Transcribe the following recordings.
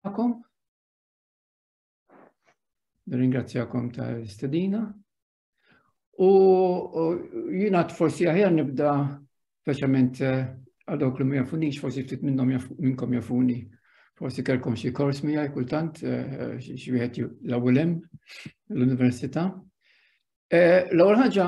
tagħkom. Ringrazzjakom tal-istedina. U jina forsi aħjar nibda speċjalment eh, għal dawk li ma jafunix, forsi ftit minnhom minnkom jafuni. Forsi kelkom xi kors miegħi kultant eh, xi wieħed l-ewwel hemm l-università. Eh, l-ewwel ħaġa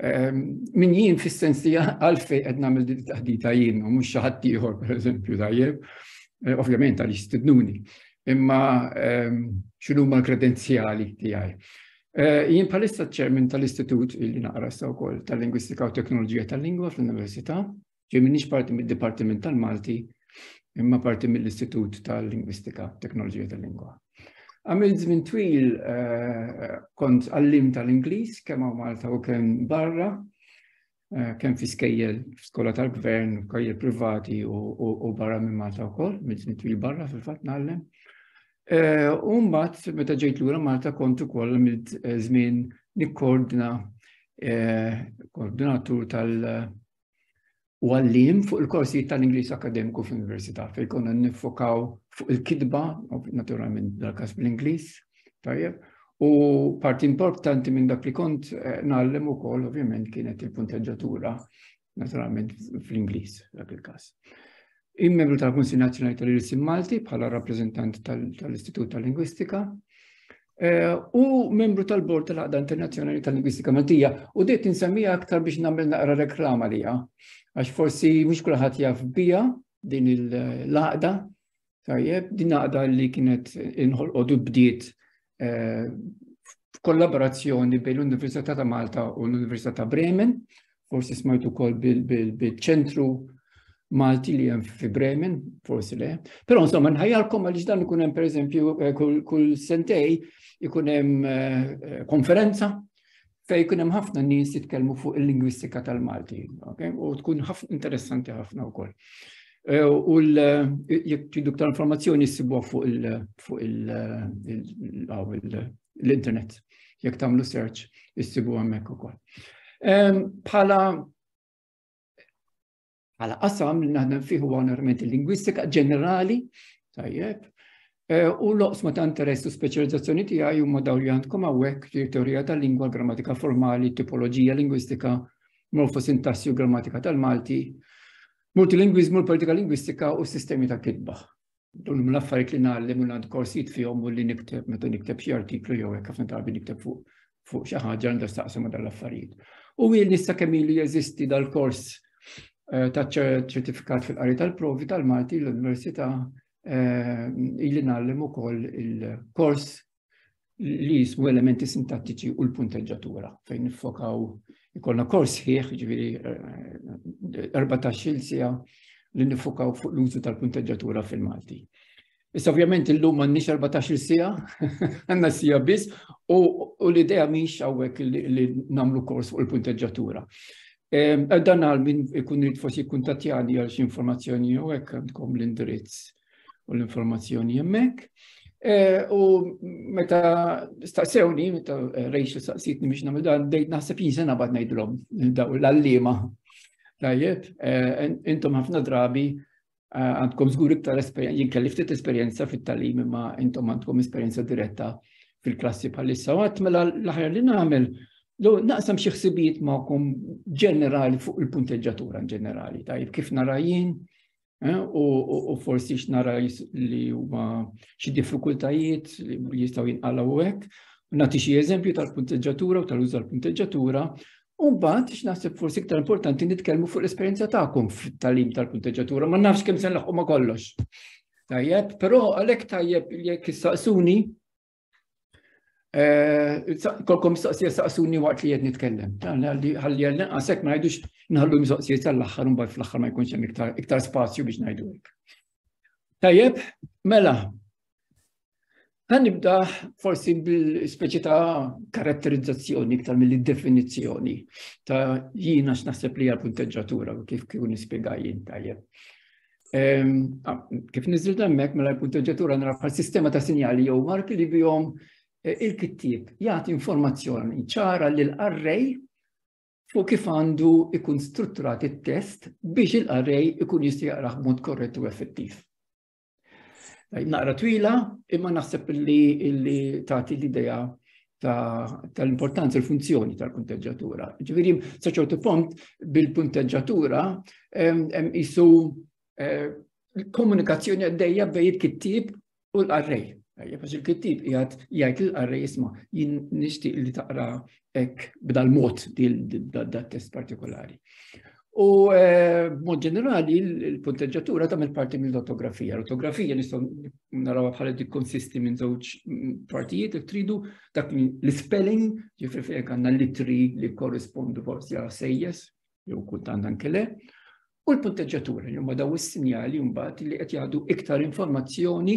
Ehm, min jien fis-sens li għalfej qed nagħmel din taħdita jien u mhux xi ħadd ieħor pereżempju tajjeb, eh, ovvjament għal jistidnuni, imma ehm, x'inhu ma l-kredenzjali tiegħi. Eh, jien bħalissa ċermin tal-Istitut li naqra sa wkoll tal-Lingwistika u Teknoloġija tal-Lingwa fl-Università Ġej minix parti mid-Dipartiment tal-Malti, imma parti mill-Istitut tal-Lingwistika, Teknoloġija tal-Lingwa. Għamil żmien twil eh, kont għallim tal-Ingliż kemm hawn Malta u kemm barra, eh, kemm fi skejjel skola tal-gvern, skejjel privati u barra minn Malta wkoll, minn żmien twil barra fil-fatt nagħllem. Eh, u mbagħad meta ġejt lura Malta kont ukoll għamil żmien nikkoordina koordinatur tal- u għallim fuq il-korsijiet tal-Ingliż akademiku fl-Università fejn konna nifokaw fuq il-kitba, naturalment dal-każ bl-Ingliż, tajjeb, u parti importanti minn dak li kont eh, nagħllem ukoll ovvjament kienet il-punteġġatura naturalment fl-Ingliż dak il-każ. Il-membru tal-Kunsil Nazzjonali tal-Irsim Malti bħala rappreżentant tal-Istitut tal-Lingwistika eh, u membru tal-Bord tal-Għaqda Internazzjonali tal-Lingwistika Maltija u dejt insemmija aktar biex nagħmel naqra reklama liha għax forsi mhux kulħadd jaf bija din il-laqda tajjeb din laqda li kienet inħolqodu bdiet eh, f'kollaborazzjoni bejn l-Università ta' Malta u l-Università ta' Bremen, forsi smajtu kol bil-ċentru Malti li jem fi Bremen, forsi le. Pero insomma, nħajalkom għalix dan ikun hemm pereżempju eh, kull sentej ikun hemm eh, konferenza fej kun hemm ħafna nies jitkellmu fuq il-lingwistika tal-Malti, okay? u tkun interessanti ħafna wkoll. Eh, u jekk tridu ktar informazzjoni ssibuha fuq l-internet. Jekk tagħmlu search issibu hemmhekk ukoll. Bħala Għala qasam li naħdem fih huwa normalment il-lingwistika ġenerali, tajjeb, e, u l-oqsma ta' interess u speċjalizzazzjoni tiegħi huma daw li għandkom hawnhekk li teorija tal-lingwa, grammatika formali, tipoloġija lingwistika, morfosintassi u grammatika tal-Malti, multilingwiżmu, l-politika lingwistika u sistemi ta' kitba. Dun huma l-affarijiet li ngħallem u għand korsijiet fihom u li nikteb meta nikteb xi artiklu jew hekk ħafna drabi nikteb fuq fuq xi ħaġa għandha staqsam dan l-affarijiet. U jien nista' kemm ilu jeżisti dal-kors eh, ta' ċertifikat fil-qari tal-provi tal-Malti l-Università eh, ili nagħllem ukoll il-kors li jismu elementi sintattiċi u l-punteġġatura fejn nifokaw ikollna kors ħieħ ġviri 14 eh, eh, sija li nifokaw fuq l-użu tal-punteġġatura fil-Malti. Issa ovvjament illum m'għandniex 14 sija, għandna sija biss u l-idea mhix hawnhekk li nagħmlu kors fuq il-punteġġatura. Ehm, dan għal min ikun rrit forsi kuntatjani għal xi informazzjoni jew hekk għandkom l-indirizz u l-informazzjoni hemmhekk. Eh, u meta staqsewni, meta eh, rejx staqsitni biex namil dan, bdejt naħseb jinsen abad najdlom daw l-allima. Tajjeb, eh, intom ħafna drabi għandkom zgur iktar esperienza, jien kelli ftit esperjenza fit-talim imma intom għandkom esperjenza diretta fil-klassi bħalissa. Għat mela l-ħajja li nagħmel Lo naqsam xi ħsibijiet magħkom ġenerali fuq il-punteġġatura ġenerali, tajjeb kif narajin, Eh, u forsi x'nara li huma xi diffikultajiet li jistgħu jinqalgħu hekk. Nagħti xi eżempju tal-punteġġatura u tal-użu tal-punteġġatura Umbat, x'naħseb forsi iktar importanti nitkellmu fuq l-esperjenza tagħkom fit-talim tal-punteġġatura, ma nafx kemm se nlaħqu ma kollox. Tajjeb, però għalhekk tajjeb jekk issaqsuni Eh, kolkom mistoqsija saqsuni waqt li jed nitkellem. Għalli għalli għasek ma jgħidux nħallu mistoqsija tal-axħar un fl-axħar ma jkunx hemm iktar spazju biex ngħidu hekk. Tajjeb, mela, Għan nibda forsi bil-speċi ta' karatterizzazzjoni iktar mill-definizjoni ta' jina x'naħseb li għal-punteġġatura u kif kif nispjega jien tajjeb. Kif nizil dammek mela l-punteġġatura nara bħal sistema ta' sinjali jew marki li bihom e, il-kittib jagħti informazzjoni ċara lil arrej fuq kif għandu ikun strutturat it-test biex il-arrej ikun jista' jaqrah b'mod korrett u effettiv. Naqra twila, imma naħseb li tagħti l-idea tal-importanza ta l-funzjoni tal-punteġġatura. Ġifieri sa ċertu punt bil-punteġġatura jisu eh, komunikazzjoni għaddejja bej il-kittib u l-qarrej. Għax il-kittib jgħat jgħid l-qarrej jisma jien nixtieq li taqra ek b'dal-mod dal-test partikolari. U eh, mod ġenerali, il-punteġġatura tagħmel parti mill-ortografija. L-ortografija nistgħu naraw bħala dik konsisti minn żewġ mm, partijiet jekk tridu dak l-spelling, ġifri fejn għandna litri li korrispondu forsi għal sejjes, jew kultant anke le, u l-punteġġatura li huma daw is-sinjali mbagħad li qed jgħadu iktar informazzjoni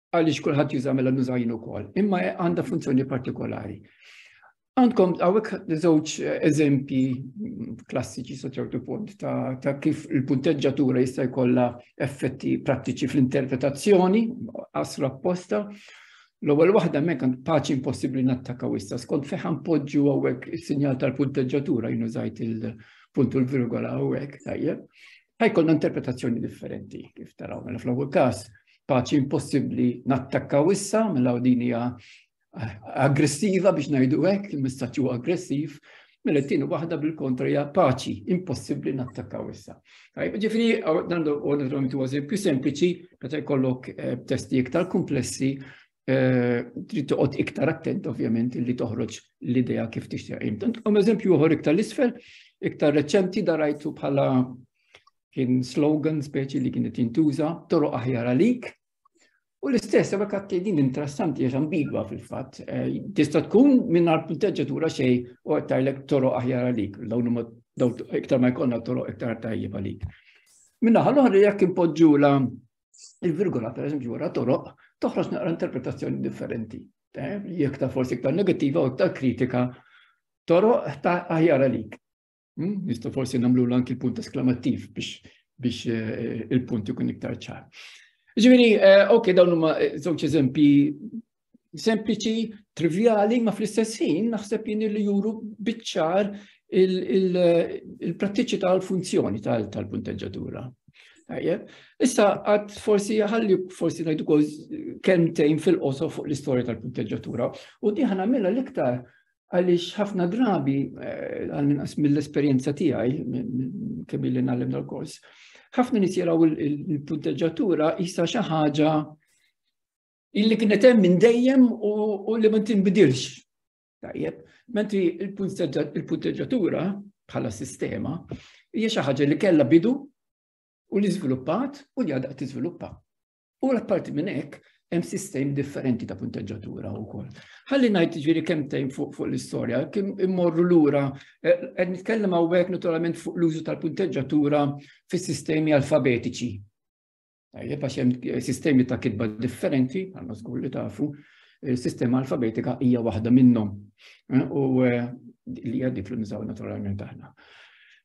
għaliex kulħadd juża mela nuża jien ukoll, imma għandha funzjoni partikolari. Għandkom għawek żewġ eh, eżempji mm, klassiċi sa ċertu punt ta', ta kif il-punteġġatura jista' jkollha effetti prattiċi fl-interpretazzjoni, asra apposta. L-ewwel waħda mek għand paċi impossibbli nattakaw issa skont feħan poġġu għawek is-sinjal tal-punteġġatura jinużajt il-punt u l-virgola għawek tajjeb. Ħajkollna interpretazzjoni differenti kif taraw mela fl-ewwel każ paċi impossibbli nattakkaw issa, mela din hija eh, aggressiva biex ngħidu hekk, il-messaġġ huwa aggressiv, mela t-tieni waħda bil-kontra hija paċi impossibbli nattakkaw issa. Tajb, ġifieri dan naturalment huwa eżempju sempliċi meta jkollok eh, testi iktar komplessi eh, trid toqgħod iktar attent ovvjament li toħroġ l-idea kif tixtieq. Tant eżempju oħor iktar l-isfel, iktar reċenti darajtu bħala kien slogan speċi li kienet jintuża toroq aħjar għalik. U l-istess, għabek għatti din interessanti għax ambigwa fil-fat. Eh, tista tkun minn għal punteġġatura xej u għattajlek toroq aħjar għalik, dawn iktar ma jkollna toroq iktar tajjeb għalik. Minna ħal-oħra jekk impoġġu la il-virgola, per eżempju, wara toroq, toħroġ naqra interpretazzjoni differenti. Eh, jekk ta' forsi iktar negativa u iktar kritika, toroq ta' aħjar għalik. Hmm? Nista' forsi nagħmlu anki l-punt esklamattiv biex biex eh, il-punt ikun iktar ċar. Ġifieri, eh, ok, dawn huma eh, żewġ eżempji sempliċi, trivjali, ma fl-istess ħin naħseb jien li juru biċċar il-prattiċi tal-funzjoni tal-punteġġatura. Issa għad forsi ħalli forsi najdu koz kemtejn fil-qoso fuq l-istoria tal-punteġġatura u diħan għamilla l-iktar Għaliex ħafna drabi, eh, għal-minqas mill-esperjenza tiegħi, kemm li nagħlem dal-kors, ħafna nies jaraw il-punteġġatura jisa xi ħaġa illi kienet hemm minn dejjem u li ma tinbidilx. Tajjeb, mentri il-punteġġatura bħala sistema hija xi ħaġa li kellha bidu u li żviluppat u li għadha tiżviluppa. U l-apparti minn hekk, hemm sistemi differenti ta' punteġġatura wkoll. Ħalli ngħid ġieri kemm tejn fuq fuq l-istorja, kim immorru lura eh, qed nitkellem hawnhekk naturalment fuq l-użu tal-punteġġatura fis-sistemi alfabetiċi. Tajjeb għax hemm eh, sistemi ta' kitba differenti, għandna żgur li tafu, eh, sistema alfabetika hija waħda minnhom. U li hija dik li nużaw naturalment aħna.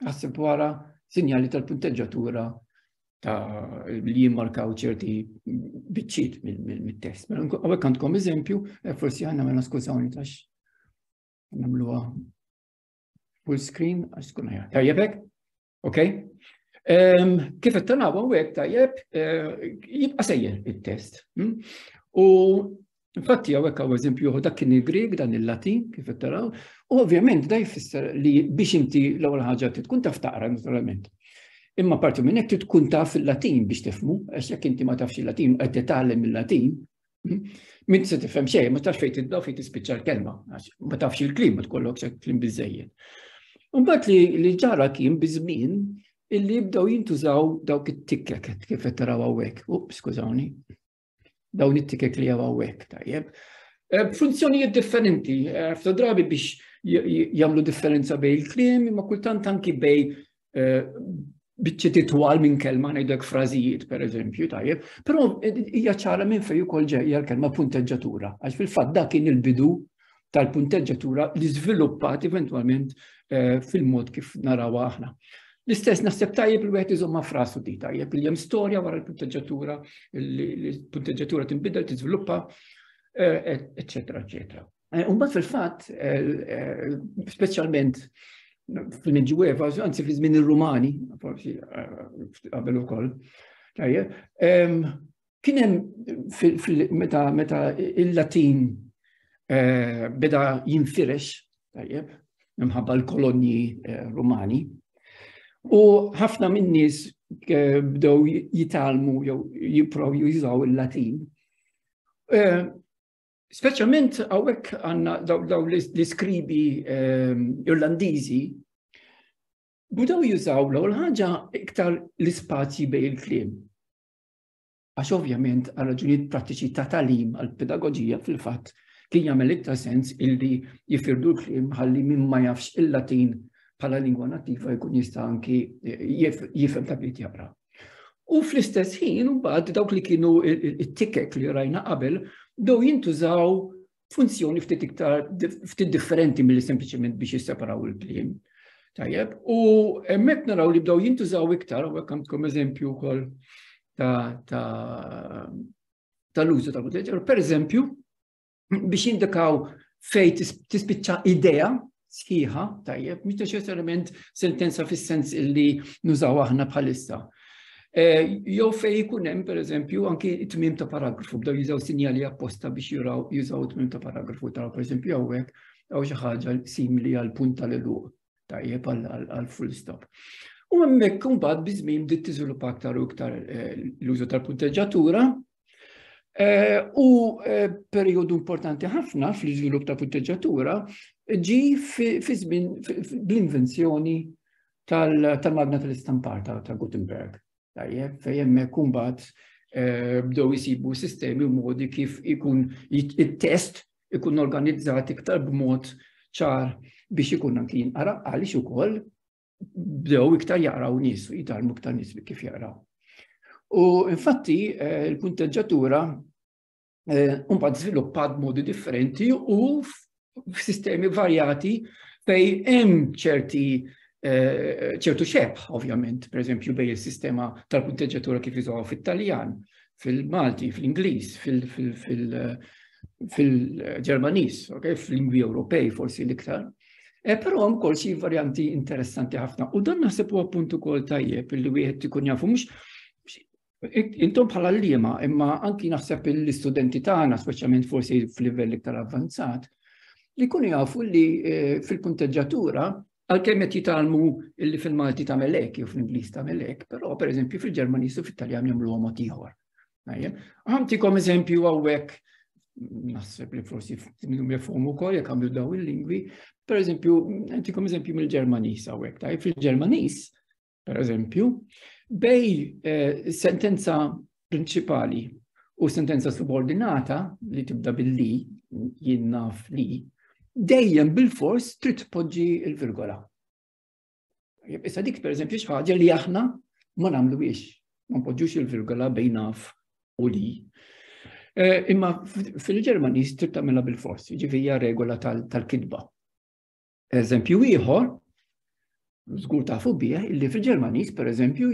Għassib wara sinjali tal-punteġġatura ta' li jimmarkaw ċerti biċċiet mit-test. Mela, għawek għandkom eżempju, eh, forsi għanna mela skużawni tax namluwa full screen, għax tkun ħajja. Tajjebek? Ok? Ehm, kif qed tanaw hawnhekk tajjeb eh, jibqa' sejjer it-test. Hm? U Infatti, għawek għaw eżempju, dak kien il-Grieg, dan il-Latin, kif taraw, u ovvjament da jfisser li biex inti l-ewwel ħaġa tkun taf taqra naturalment. Imma parti minn hekk tkun taf il-Latin biex tifmu, għax jekk inti ma tafx il-Latin u qed titgħallem il-Latin, hm, minn se tifhem xejn, ma tafx fejn tidda fejn tispiċċa l-kelma, għax ma tafx il-klim ma tkollok se klim biżejjed. Imbagħad li li ġara kien biżmin illi jibdew jintużaw dawk it-tikket kif qed taraw hawnhekk. Up, skużawni. Dawn it-ticket li għaw għawek, tajjeb. Eh, funzjonijiet differenti, eh, f'ta drabi biex jamlu differenza bej il-klim, ma kultant anki bej eh, bieċi titwal minn kelma ngħidlek frażijiet per eżempju, tajjeb, però hija ċara minn fejn ukoll ġejja l-kelma punteġġatura, għax fil-fatt dak kien il-bidu tal-punteġġatura li żviluppat eventwalment eh, fil-mod kif naraw aħna. L-istess naħseb tajjeb li wieħed iżomma frasu di tajjeb li hemm storja wara l-punteġġatura, l-punteġġatura tinbidel, tiżviluppa, eċetera, eh, eċetera. Eh, Umbat fil-fatt, speċjalment fil-Medjueva, anzi fi żmien ir-Rumani, forsi qabel ukoll, tajjeb, ehm, Kien hemm meta meta il-Latin eh, beda jinfirex, tajjeb, minħabba l-kolonji eh, Rumani, u ħafna min-nies eh, bdew jitalmu jew jipprovu jużaw il-Latin. Speċjalment hawnhekk għandna daw l-iskribi ehm, Irlandiżi budaw jużaw l ħaġa iktar l-ispazji bej il-kliem. Għax ovvjament għal raġunijiet prattiċi ta' talim għal pedagoġija fil-fatt kien jagħmel iktar sens illi jifirdu l-kliem ħalli minn ma jafx il-Latin bħala lingwa nattiva jkun jista' anki jifhem ta' bit jaqra. U fl-istess ħin, mbagħad dawk li kienu it-tikek li rajna qabel, dew jintużaw funzjoni ftit iktar ftit differenti mill sempliċement biex jisseparaw il-kliem. Tajjeb, u hemmhekk naraw li bdew jintużaw iktar, u hekk għandkom eżempju wkoll tal-użu ta' muteġer, per eżempju, biex jindikaw fej tispiċċa idea, sħiħa, tajjeb, mhux neċessarjament sentenza fis-sens illi nużaw aħna bħalissa. Eh, jew fej ikun hemm pereżempju anki tmiem ta' paragrafu bdew jużaw sinjali apposta biex juraw jużaw tmiem ta' paragrafu ta' pereżempju hawnhekk jew xi ħaġa simili għal punt tal-eluq tajjeb għal full stop. U hemmhekk imbagħad biżmien bdiet tiżviluppa aktar u iktar eh, l-użu tal-punteġġatura Eh, u eh, periodu importanti ħafna fl-iżvilupp ta' punteġġatura ġi fi żmien bl-invenzjoni tal-magna tal-istampar ta' Gutenberg. Tajjeb, fejjem kumbat eh, bdew jisibu sistemi u modi kif ikun il-test ikun organizzat iktar b'mod ċar biex ikun anki jinqara għaliex ukoll bdew iktar jaqraw nies, jitalmu iktar nies li kif jaqraw. U infatti eh, il-punteġġatura eh, mbagħad żviluppat modi differenti u f'sistemi varjati fej hemm ċerti eh, ċertu xebħ, ovvjament, per eżempju, bej il-sistema tal-punteġġatura kif jizuħu fit-Taljan, fil-Malti, fil-Ingliż, fil-Ġermaniż, fil-lingwi Ewropej forsi l-iktar. E, Però hemm ukoll xi varjanti interessanti ħafna u dan naħseb huwa punt ukoll tajjeb li wieħed ikun jafu mhux Intom bħala l-lima, imma anki naħseb l-istudenti tagħna, speċjalment forsi f'livell iktar avvanzat, li kunu jafu li eh, fil-kunteġġatura Għal-kem qed jitalmu illi fil-Malti ta' melek jew fl-Ingliż ta' melek, però pereżempju fil-Ġermaniż u fit-Taljan jagħmlu mod ieħor. Għamtikom eżempju għawek, naħseb li forsi minnum jafhom ukoll jekk għamlu daw il-lingwi, per eżempju, għamtikom eżempju mill-Ġermanis għawek, tajjeb fil-Ġermanis, per eżempju, bej eh, sentenza prinċipali u sentenza subordinata li tibda billi jinnaf li dejjem bil-fors trid tpoġġi il-virgola. Issa dik per eżempju xaħġa li aħna ma namlu biex, ma npoġġux il-virgola bejn naf u li. Eh, imma fil-Ġermani trid tagħmilha bil-fors, ġifieri regola tal-kitba. Eżempju ieħor, żgur tafu bih, illi fil-Ġermaniż pereżempju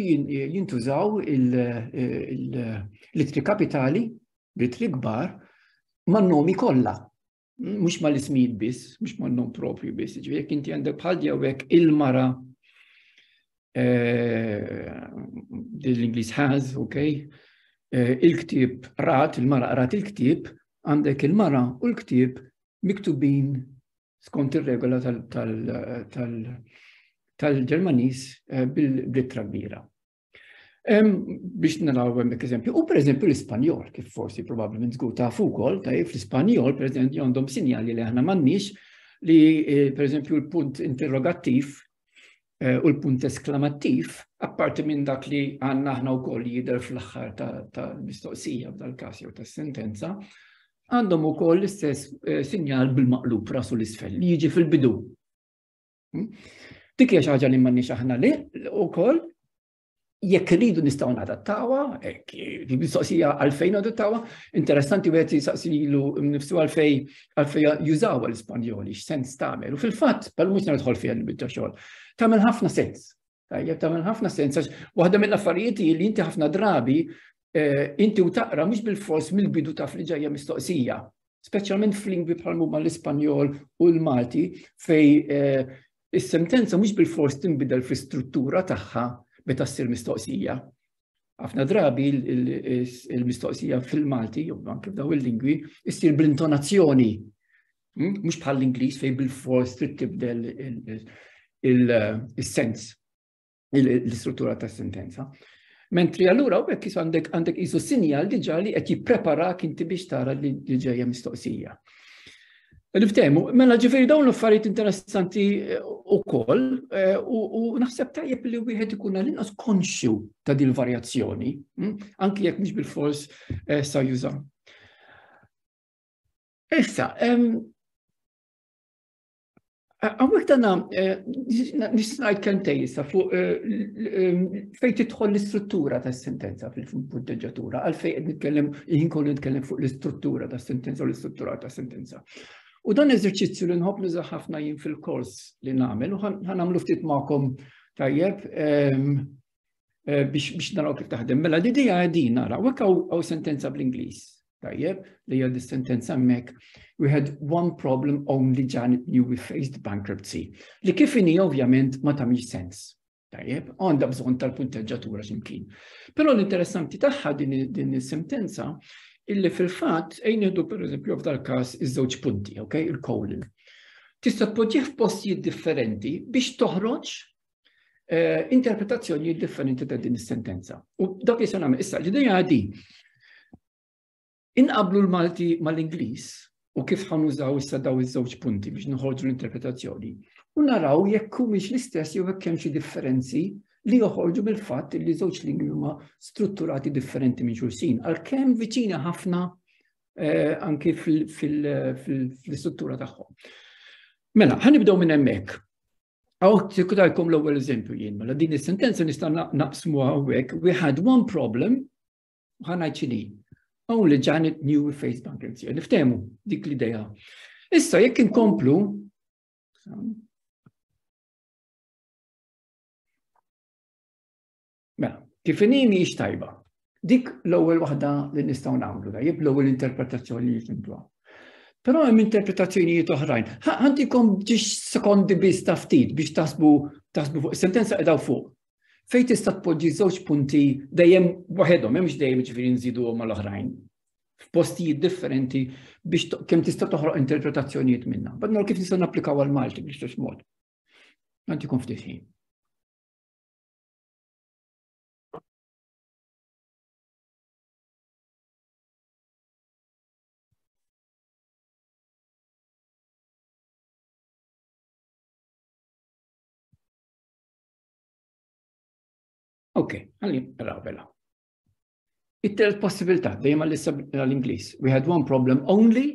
jintużaw il-litri kapitali, litri kbar, man-nomi kollha. mhux ma l-ismijiet biss, mhux ma non propri biss, ġifieri jekk inti għandek bħal jawek il-mara eh, l-Ingliż has, ok, eh, il-ktib rat, il-mara rat il-ktib, għandek il-mara u l-ktib miktubin skont ir-regola tal-Ġermanis eh, bil-blittra kbira. Biex naraw hemmhekk eżempju, u pereżempju l-Ispanjol, kif forsi probabbilment żgur ta' ukoll, tajjeb fl-Ispanjol, pereżempju għandhom sinjali li aħna m'għandniex li eh, pereżempju l-punt interrogattiv eh, u l-punt esklamattiv, apparti minn dak li għandna aħna wkoll jidher fl-aħħar tal-mistoqsija f'dal-każ jew tas-sentenza, għandhom ukoll l-istess eh, sinjal bil-maqlub rasu l-isfel li jiġi fil-bidu Hmm? Dik hija xi ħaġa li m'għandniex aħna li wkoll jekk rridu nistgħu nadattawa, mistoqsija għalfejn nadattawa, interessanti wieħed jisaqsilu nifsu għalfej għalfej jużaw l-Ispanjoli, x'sens tagħmel. U fil-fatt, bħal mhux nidħol fih il-bidda xogħol, tagħmel ħafna sens. Tajjeb tagħmel ħafna sens għax waħda mill-affarijiet li inti ħafna drabi eh, inti u taqra mhux bil-fors mill-bidu taf li ġejja mistoqsija. Speċjalment f'lingwi bħal huma l-Ispanjol u l-Malti fej eh, is-sentenza mhux bil-fors tinbidel fl-istruttura tagħha meta ssir mistoqsija. Ħafna drabi il-mistoqsija fil-Malti, jew anke f'daw il-lingwi, issir bl-intonazzjoni Hmm? Mhux bħall-Ingliż fejn bil-fors trid tibdel il-sens, l-istruttura ta' sentenza. Mentri allura u bekk għandek għandek isu sinjal diġa li qed jipprepara kinti biex tara li ġejja mistoqsija. Niftehmu, mela ġifieri dawn l-affarijiet interessanti eh, ukoll eh, u naħseb tajjeb li wieħed ikun għal-inqas konxju ta' din varjazzjoni, hm? anki jekk mhux bil-fors eh, sa juża. Issa, Għamwek dana, eh, nisnajt kentej jissa fuq eh, eh, fej titħol l-istruttura ta' sentenza fil-punteġatura, għalfej għed nitkellem, jien kollu nitkellem fuq l-istruttura ta' sentenza u l-istruttura ta' sentenza. U dan eżerċizzju li nħobb nuża ħafna jien fil-kors li nagħmel u ħanamlu ftit magħkom tajjeb. Ehm, eh, biex naraw kif taħdem. Mela li dija għedin naraw, għek għaw sentenza bl-Inglis. Tajjeb, li għad sentenza mek, we had one problem only Janet knew we faced bankruptcy. Li kifini ovvjament ma tamiex sens. Tajjeb, għanda bżon tal-punteġġatura ximkien. Pero l-interessanti taħħa din il-sentenza illi fil-fat ejn jihdu per eżempju f'dal kas iż-żewġ punti, ok, il-colon tista' tpoġġih f'postijiet differenti biex toħroġ eh, interpretazzjoni differenti ta' din is-sentenza. U dak li se nagħmel issa ġidejja għadi. Inqablu l-Malti mal-Ingliż u kif ħanużaw issa daw iż-żewġ punti biex nħorġu l-interpretazzjoni u naraw jekk humiex l-istess jew hekk hemm xi differenzi li joħorġu mill-fatt li żewġ lingwi huma strutturati differenti minn xulxin, għalkemm viċina ħafna eh, anki fil-struttura tagħhom. Mela, ħanibdew minn hemmhekk. Għaw, sekutajkom l-ewwel eżempju jien, mela din is-sentenza nista' naqsmu għawek, we had one problem, ħanajt xini, only Janet knew we faced bankruptcy. Niftemu dik l-ideja. Issa, jekk inkomplu, Mela, kif inhi mhijiex tajba. Dik l-ewwel waħda li nistgħu nagħmlu, tajjeb l-ewwel interpretazzjoni li jifimtuha. Però hemm interpretazzjonijiet oħrajn. Ħantikom ġiex sekondi biss ta' ftit biex tasbu tasbu fuq sentenza qedaw fuq. Fejn tista' tpoġġi żewġ punti dejjem waħedhom, hemmx dejjem ġifieri nżidu mal-oħrajn. F'postijiet differenti biex kemm tista' toħroq interpretazzjonijiet minna. Bad kif nista' napplikaw għal Malti biex mod. Għantikom ftit ħin. Ok, għalli, raw bella. It-telt possibilità, dejjem għall-Inglis. We had one problem only,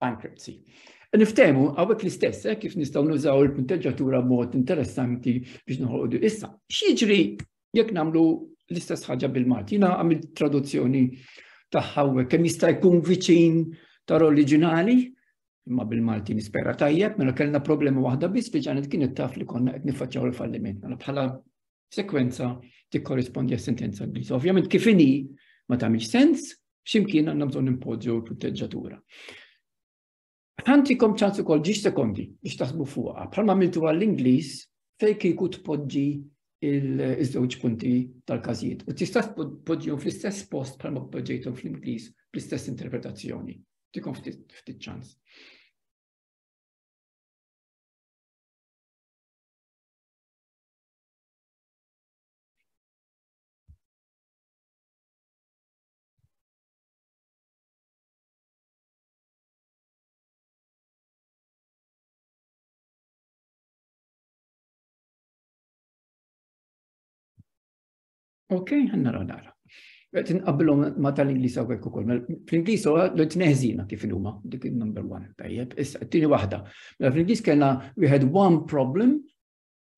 bankruptcy. Niftehmu għawek l-istess, eh, kif nistaw nużaw il-punteġġatura mod interessanti biex nħolqu issa. X'jiġri jekk namlu l-istess ħaġa bil-Malti? Jina għamil traduzzjoni taħħaw kemm jista' jkun viċin tar oriġinali, imma bil-Malti nispera tajjeb, mela kellna problema waħda biss li ġanet kienet taf li konna qed nifacċaw il-falliment. Mela bħala sekwenza tikkorrispondi għas-sentenza Ingliża. Ovvjament kif inhi ma tagħmilx sens, x'imkien għandna bżonn impoġġu l-proteġġatura. Ħantikom ċans ukoll ġiex sekondi biex taħsbu fuqha, bħalma għamiltu għall-Ingliż fejn kieku tpoġġi il-żewġ punti tal-każijiet. U tista' tpoġġihom fl-istess post bħalma poġġejthom fl-Ingliż bl-istess interpretazzjoni. Tikom ftit ċans. Ok, għanna raw nara. Għet nqabbilom ma tal-Inglis għawek u koll. Fl-Inglis u għallu t-neħzina kif il-huma, dik il-number one, tajjeb. Issa, t-tini wahda. Mela, Fl-Inglis kena we had one problem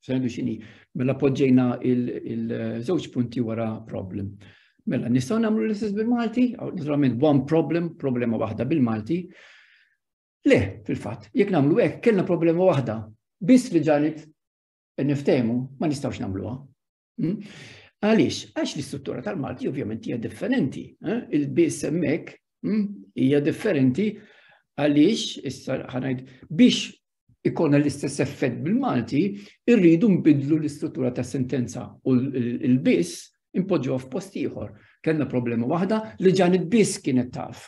Sejdu xini, mela poġġejna il-żewġ punti wara problem. Mela, nistaw namlu l-istess bil-Malti, naturalment one problem, problema waħda bil-Malti. Le, fil-fat, jek namlu hekk, kellna problema waħda, biss li ġanet niftemu, ma nistawx namluha. Hmm? Għaliex, għax l-istruttura tal-Malti ovvjament hija differenti. Eh? Il-biss hemmhekk hmm, hija differenti għaliex issa ħanajd biex ikonna l-istess effett bil-Malti, irridu nbidlu l-istruttura ta' sentenza u l-biss impoġġuha f'post ieħor. Kellna problema waħda li ġan il-biss kienet taf.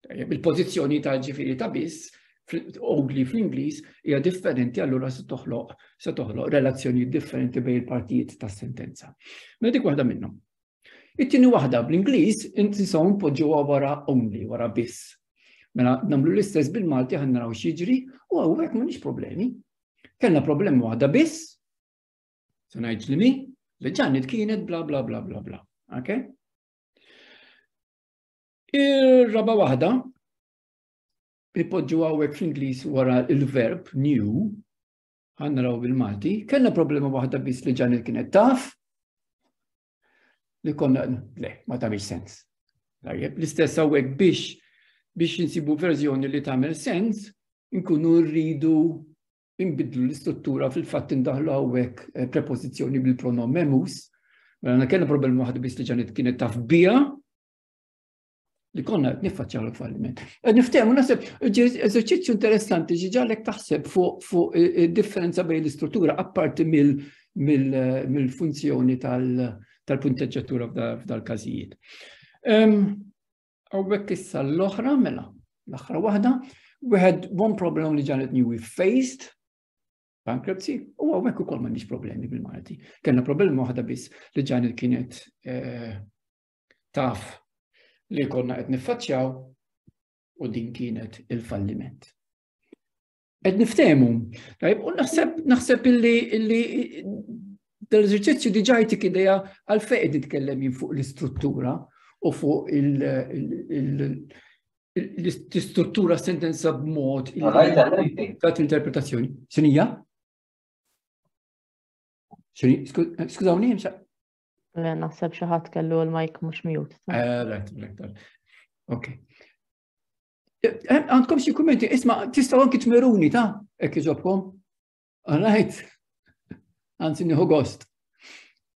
Il-pożizzjoni ta' ġifieri ta' biss ugli fl-Ingliż hija differenti allura se toħloq se toħloq relazzjonijiet differenti bejn il-partijiet tas-sentenza. Mela dik waħda minnhom. It-tieni waħda bl-Ingliż inti saw npoġġuha wara only, wara biss. Mela nagħmlu l-istess bil-Malti ħan naraw x'jiġri u hawnhekk m'għandix problemi. Kellna problema waħda biss, se ngħid li mi, li ġannet kienet bla bla bla bla bla. Okay? Ir-raba' waħda ipoġġu għawek fl-Inglis wara il-verb new, għanna raw bil-Malti, kena problema waħda bis li ġan il-kienet taf, li konna, le, ma tamil sens. Tajjeb, l-istess għawek biex biex nsibu verżjoni li tamil sens, nkunu rridu imbidlu l-istruttura fil-fatt indaħlu għawek eh, prepozizjoni bil-pronom memus, mela kena problema waħda bis li ġan il-kienet taf bija, li konna qed niffaċċjaw il-falliment. Qed niftehmu naħseb eżerċizzju interessanti ġi ġalek taħseb fuq id-differenza bejn l-istruttura apparti mill-funzjoni tal-punteġġatura f'dal-każijiet. Għawek issa l-oħra mela, l-oħra waħda, we had one problem li ġanet new we faced bankruptcy u għawek u kol ma nix problemi bil-Malti. Kenna problema waħda biss li ġanet kienet eh, taf li konna qed niffaċċjaw u din kienet il-falliment. Qed niftehmu, tajb, u naħseb naħseb illi illi dal-eżerċizzju diġà jtik idea għal fejn nitkellem jien fuq l-istruttura u fuq l-istruttura sentenza b'mod ta' interpretazzjoni. Sinija? Skużawni, Naħseb xi ħadd kellu l-mike mhux mute. Eh, right, right, right. Ok. Eh, eh, għandkom xi kummenti, isma' tistgħu anki tmeruni ta' hekk iġobkom. All right. Anzi nieħu gost.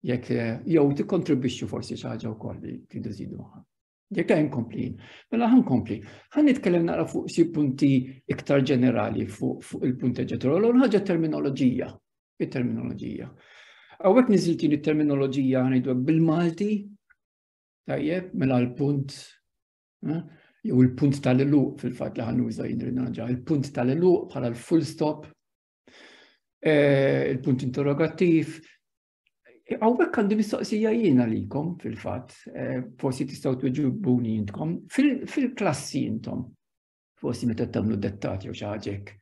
Jekk jew tikkontribwixxu forsi xi ħaġa wkoll li tidu żidu Jekk għajn kompli, mela għan kompli. Għan nitkellem naqra fuq si punti iktar ġenerali fuq il-punti ġenerali, u ħagġa terminoloġija, il-terminoloġija. Għawek niziltin il-terminoloġija għanidu bil-Malti, tajjeb, mela l-punt, eh, jew il-punt tal-eluq fil-fat li għan uża jindrinaġa, il-punt tal-eluq bħala l-full stop, eh, il-punt interrogativ, Għawek għandi mistoqsija jiena likom fil-fat, eh, forsi tistaw tuġibuni jintkom, fil-klassi jintom, forsi meta tamlu dettati u xaġek.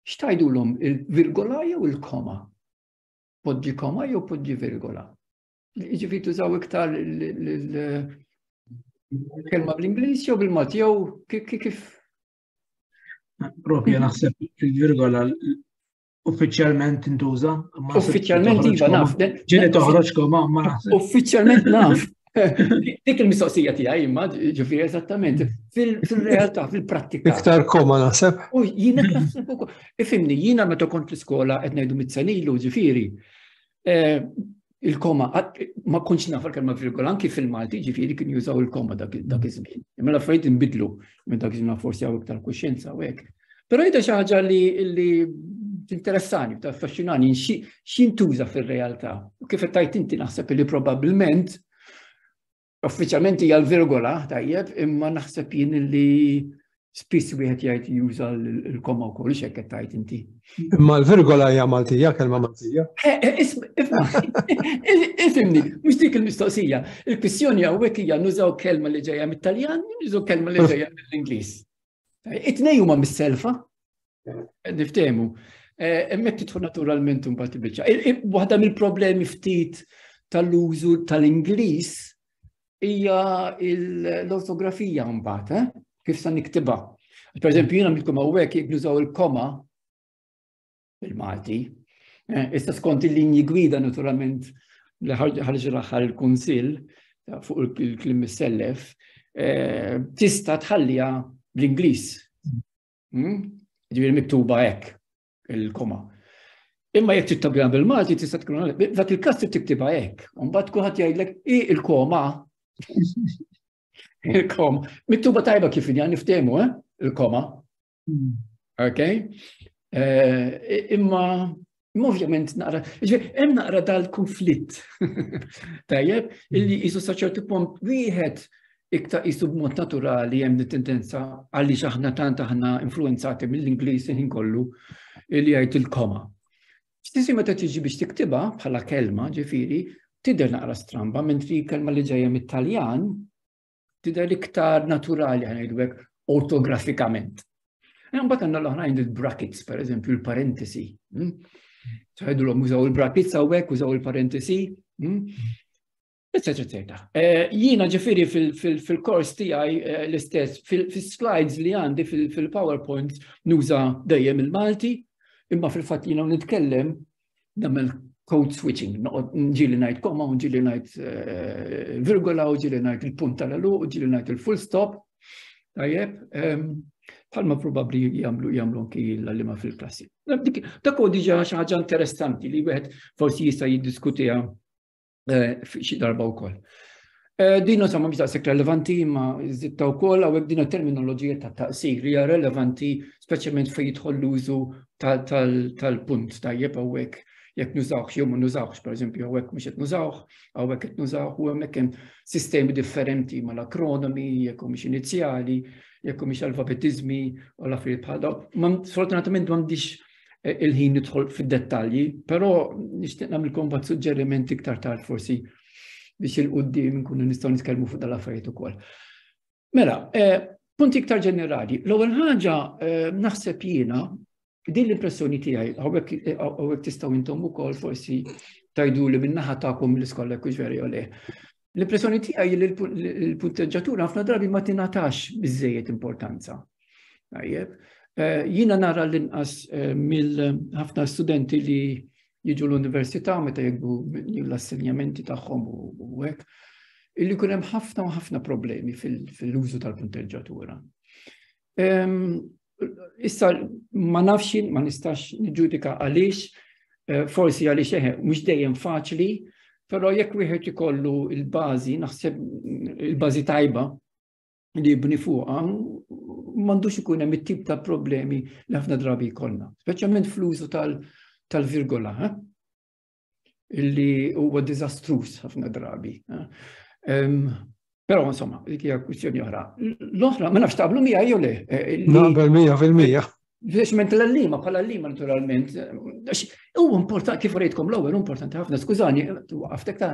Xtajdu l-om il-virgola jew il-koma? Podġi koma jew podġi virgola? Ġifi tużaw iktar il-kelma bl-Inglis jew bil-Malti jew kif? Propja naħseb il-virgola Uffiċjalment tintuża? Uffiċjalment iva naf. Ġieli toħroġ koma ma naf. Uffiċjalment naf. Dik il-mistoqsija tiegħi imma ġifi eżattament fil-realtà, fil-prattika. Iktar koma naħseb. U jiena naħseb ukoll. Ifimni, jiena meta kont l-iskola qed ngħidu mit-senilu ġifieri. eh, il-koma, ma kunx nafar kelma virgola, anki fil-Malti ġifiri kien jużaw il-koma dak iż-żmien. Imma l-affarijiet inbidlu minn dak iż-żmien forsi għaw iktar kuxjenza u hekk. Però jidha xi ħaġa li interessani, ta' affaxxinani, x'intuża fir-realtà. U kif qed tajt inti naħseb li probabbilment Uffiċjalment hija l-virgola, tajjeb, imma naħseb jien li spiss wieħed jgħid juża l-koma wkoll ix hekk tajt inti. Imma l-virgola hija Maltija, kelma Maltija. Eh, eh, Ifimni, mhux dik il-mistoqsija. Il-kwistjoni hawnhekk hija nużaw kelma li ġejja mit-Taljan, nużaw kelma li ġejja mill-Ingliż. It-tnej huma mis-selfa, niftehmu. Eh, Emmek titħu naturalment un bat bieċa. Waħda mill-problemi ftit tal-użu tal-Inglis hija l-ortografija mbagħad, eh? kif sa niktiba. Per eżempju, jiena mitkom hawnhekk jibnużaw il-koma bil-Malti. Eh, issa skont il-linji gwida naturalment li ħarġ l-aħħar il-Kunsill fuq il-klim sellef eh, tista' tħallija bl-Ingliż. Hmm? Ġifieri miktuba hekk il-koma. Imma jekk tittabja bil-Malti tista' tkun dak il-każ tiktibha hekk. Mbagħad kulħadd jgħidlek i il-koma il-koma. Miktuba tajba kif inja niftehmu, eh? Il-koma. Hmm. Ok? Eh, imma Ovvjament naqra, hemm naqra dal-konflitt. Tajjeb, illi hmm. jisu saċertu punt wieħed iktar jisu b'mod naturali hemm tendenza għalli aħna tant aħna influenzati mill-Ingliż ħin kollu li jgħid il-koma. Stisi meta tiġi biex tiktiba bħala kelma ġifiri, tidher naqra stramba, mentri kelma li ġejja mit-Taljan, tidher iktar naturali ħanajdwek ortografikament. Mbagħad għandna l-oħrajn il-brackets, per eżempju, il-parentesi. Hmm? Tħajdulhom użaw il-brackets hawnhekk, użaw il-parentesi, eccetera, hmm? eccetera. Eh, jiena ġifieri fil-kors tiegħi eh, l-istess, fil-slides li għandi fil-PowerPoint nuża dejjem il-Malti, imma fil-fatt jiena nitkellem namel code switching, ġili najt koma, ġili najt eh, virgola, ġili najt il-punt tal-elu, ġili najt il-full stop, tajjeb, ehm, bħalma probabli jamlu jamlu anki l-għallima fil-klassi. Dak u diġa xaħġa interessanti li wieħed forsi jista' jiddiskutija eh, xi darba wkoll. Eh, din u samma biex relevanti ma zitta u koll għawek din terminoloġija ta' taqsir li relevanti speċjalment fej jidħol l-użu tal-punt tajjeb għawek jek nużawx jew ma nużawx, per eżempju, għawek mux jek nużawx, għawek jek nużawx, u għamek kem sistemi differenti ma l-akronomi, jek u mux inizjali, jek u mux alfabetizmi, u l-affarijiet bħal daw. Ma sfortunatament ma mdix eh, il-ħin nidħol fid-dettalji, però nixtieq nagħmilkom bad suġġeriment iktar tard forsi biex il-qudiem nkunu nistgħu nitkellmu fuq dal-affarijiet ukoll. Mela, eh, punti iktar ġenerali. L-ewwel ħaġa eh, naħseb jiena din l-impressjoni tiegħi hawnhekk tistgħu intom ukoll forsi tajdu li minnaħa tagħkom l-iskola kux veri le. L-impressjoni tiegħi li l-punteġġatura ħafna drabi ma tingħatax biżejjed importanza. Tajjeb, eh, jiena nara l-inqas eh, mill-ħafna studenti li jiġu l-università meta jibdu l-assenjamenti tagħhom u hekk, illi kun hemm ħafna u ħafna problemi fil-użu tal-punteġġatura. Ehm, issa ma nafx ma nistax niġġudika għaliex, eh, forsi għaliex eħe, eh, mhux dejjem faċli, però jekk wieħed ikollu il-bażi, naħseb il-bażi tajba li jibni fuqha, m'għandux ikun hemm it-tip ta' problemi li ħafna drabi jkollna, speċjalment fl-użu tal-virgola. Eh? illi huwa diżastruż ħafna drabi. Però insomma, dik hija kwistjoni oħra. L-oħra, ma nafx taqblu mija jew le. Eh, Naqbel mija fil-mija. Fleshment l-allima, bħal allima naturalment. U importanti, kif rejtkom l-ewwel, importanti ħafna, skużani, għaftek ta'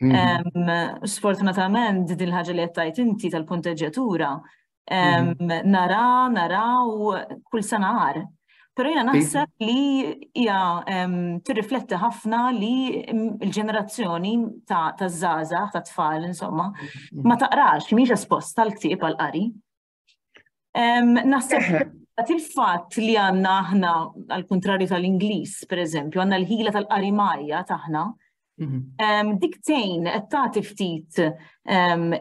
Sfortunatament, din ħaġa li għattajt inti tal-punteġġjatura, nara, nara u kull sanar. Pero jena naħseb li hija tirrifletti ħafna li l-ġenerazzjoni ta' zaza, ta' tfal, insomma, ma taqrax, miex esposta l-ktib għal-qari. Naħseb Għat il-fat li għanna aħna, għal-kontrarju tal-Inglis, per eżempju, għanna l-ħila tal-qarimajja taħna, mhm. diktejn qed tagħti ftit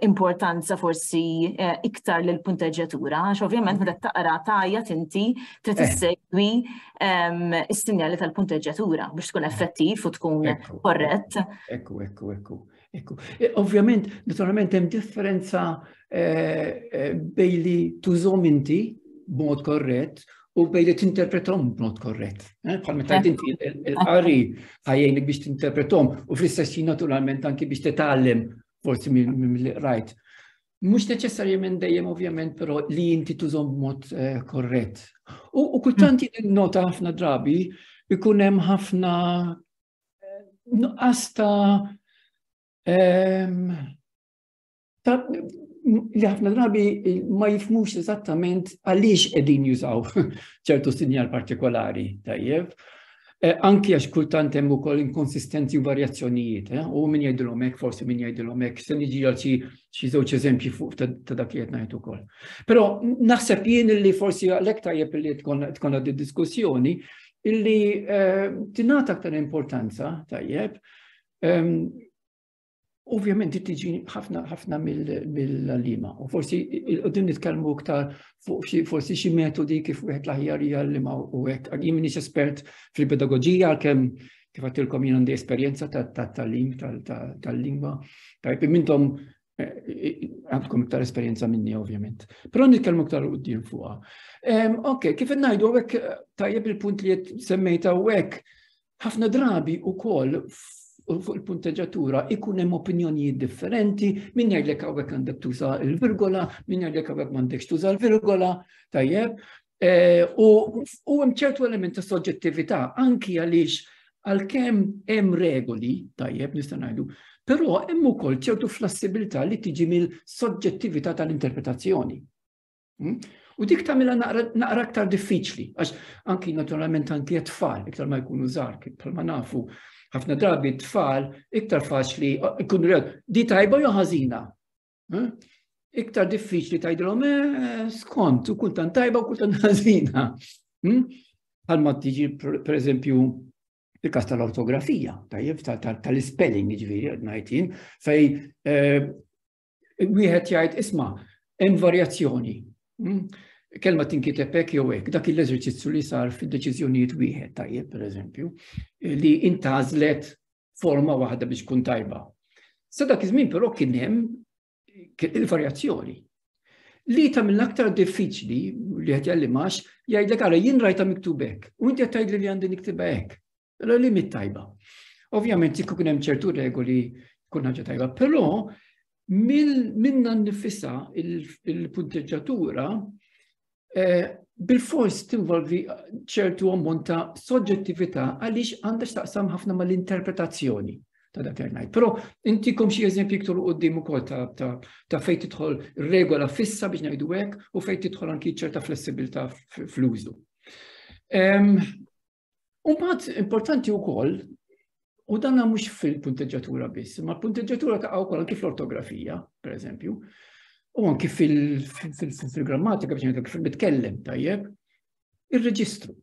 importanza forsi eh, iktar l punteġġjatura għax ovvjament meta taqra tajja tinti trid eh. issegwi s-sinjali tal-punteġġjatura biex tkun effettiv u tkun korrett. Ekku, ekku, ekku. Ekku, e, ovvjament, naturalment hemm differenza e, e, bej li tużom inti b'mod korrett u bej li tinterpretom b'mod korrett. Bħal meta inti l-qari ħajjejni biex tinterpretom u fl-istess naturalment anki biex titgħallem forsi mill-rajt. Mux neċessarjament dejjem ovvjament, pero li inti tużom b'mod eh, korrett. U kultanti mm. nota ħafna drabi, ikunem ħafna nuqqas ta' li ħafna drabi ma jifmux eżattament għaliex qegħdin jużaw ċertu sinjal partikolari tajjeb. E, anki għax kultant hemm ukoll inkonsistenzi u varjazzjonijiet, e, u min jgħidilhom hekk, forsi min jgħidilhom hekk, se niġi għal xi żewġ eżempji fuq ta' dak li qed ngħid ukoll. Però naħseb jien li forsi għalhekk tajjeb li tkun għaddi diskussjoni illi tingħata aktar importanza tajjeb Ovvjament di tiġi ħafna ħafna mill-lima. U forsi din nitkellmu iktar fuq forsi xi metodi kif wieħed l-aħjar hija l-lima u hekk. Jien m'iniex espert fil-pedagogija għalkemm kif għattilkom jien għandi esperjenza tal-talim tal-lingwa. Tajb mintom għandkom iktar esperjenza minni ovvjament. Però nitkellmu iktar u d-din fuqa. Ok, kif najdu għek tajjeb il-punt li jett semmejta għek, ħafna drabi u koll fuq il-punteġatura ikun hemm opinjonijiet differenti, min jgħidlek hawnhekk għandek tuża l-virgola, min jgħidlek hawnhekk m'għandekx tuża l-virgola, tajjeb, Eh, u hemm ċertu element ta' soġġettività anki għaliex għalkemm hemm regoli tajjeb nista' ngħidu, però hemm ukoll ċertu flassibilità li tiġi mill-soġġettività tal-interpretazzjoni. Hmm? U dik tagħmilha naqra aktar diffiċli, għax anki naturalment anki tfal iktar ma jkunu żgħar bħalma nafu ħafna drabi tfal iktar faċli ikunu rew di tajba jew ħażina. Eh? Iktar diffiċli tajdilhom eh, skont u kultant tajba u kultant ħażina. Hmm? Għalma tiġi per eżempju il-kas tal-ortografija, tajjeb tal-spelling ġviri għadnajtin, fej eh, wieħed jgħid isma' hemm varjazzjoni. Hmm? kelma tinkiteb hekk jew hekk, dak l-eżerċizzju li sar fid-deċiżjonijiet wieħed tajjeb pereżempju, li intażlet forma waħda biex tkun tajba. Sa dak iż-żmien però kien hemm il-varjazzjoni. Li ta' mill aktar diffiċli li qed jallimax jgħidlek ara jien rajta miktub hekk u inti qed tgħidli li għandi niktiba hekk. Allora li mit tajba. Ovvjament jekk kien hemm ċertu regoli kun ħaġa tajba, però minna nifissa il-punteġġatura eh, bil-fors tinvolvi ċertu ammont ta' soġġettività għaliex għandha x'taqsam ħafna mal-interpretazzjoni ta' dak ngħid. Però intikom xi eżempji iktar u qudiem ukoll ta' fejn tidħol regola fissa biex ngħidu hekk u fejn tidħol anki ċerta flessibilità fl-użu. U mbagħad importanti wkoll u dan mhux fil-punteġġatura biss, ma l-punteġġatura ta' wkoll anki fl-ortografija, pereżempju, u anki fil-grammatika biex ngħidlek kif nitkellem tajjeb, ir-reġistru.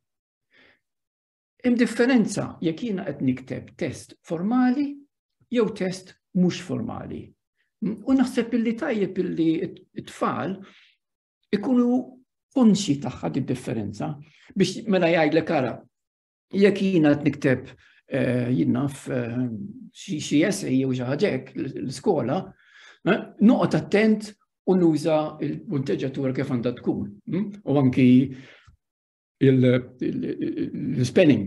Hemm differenza jekk jiena qed nikteb test formali jew test mhux formali. U naħseb illi tajjeb illi t-tfal ikunu konxi tagħha id-differenza biex mela jgħidlek ara jekk jiena qed nikteb eh, jinnaf eh, xi essej jew xi ħaġek l-iskola, eh, noqgħod attent u nuża il-punteġġatura kif għandha tkun. Hm? U anki l-spelling.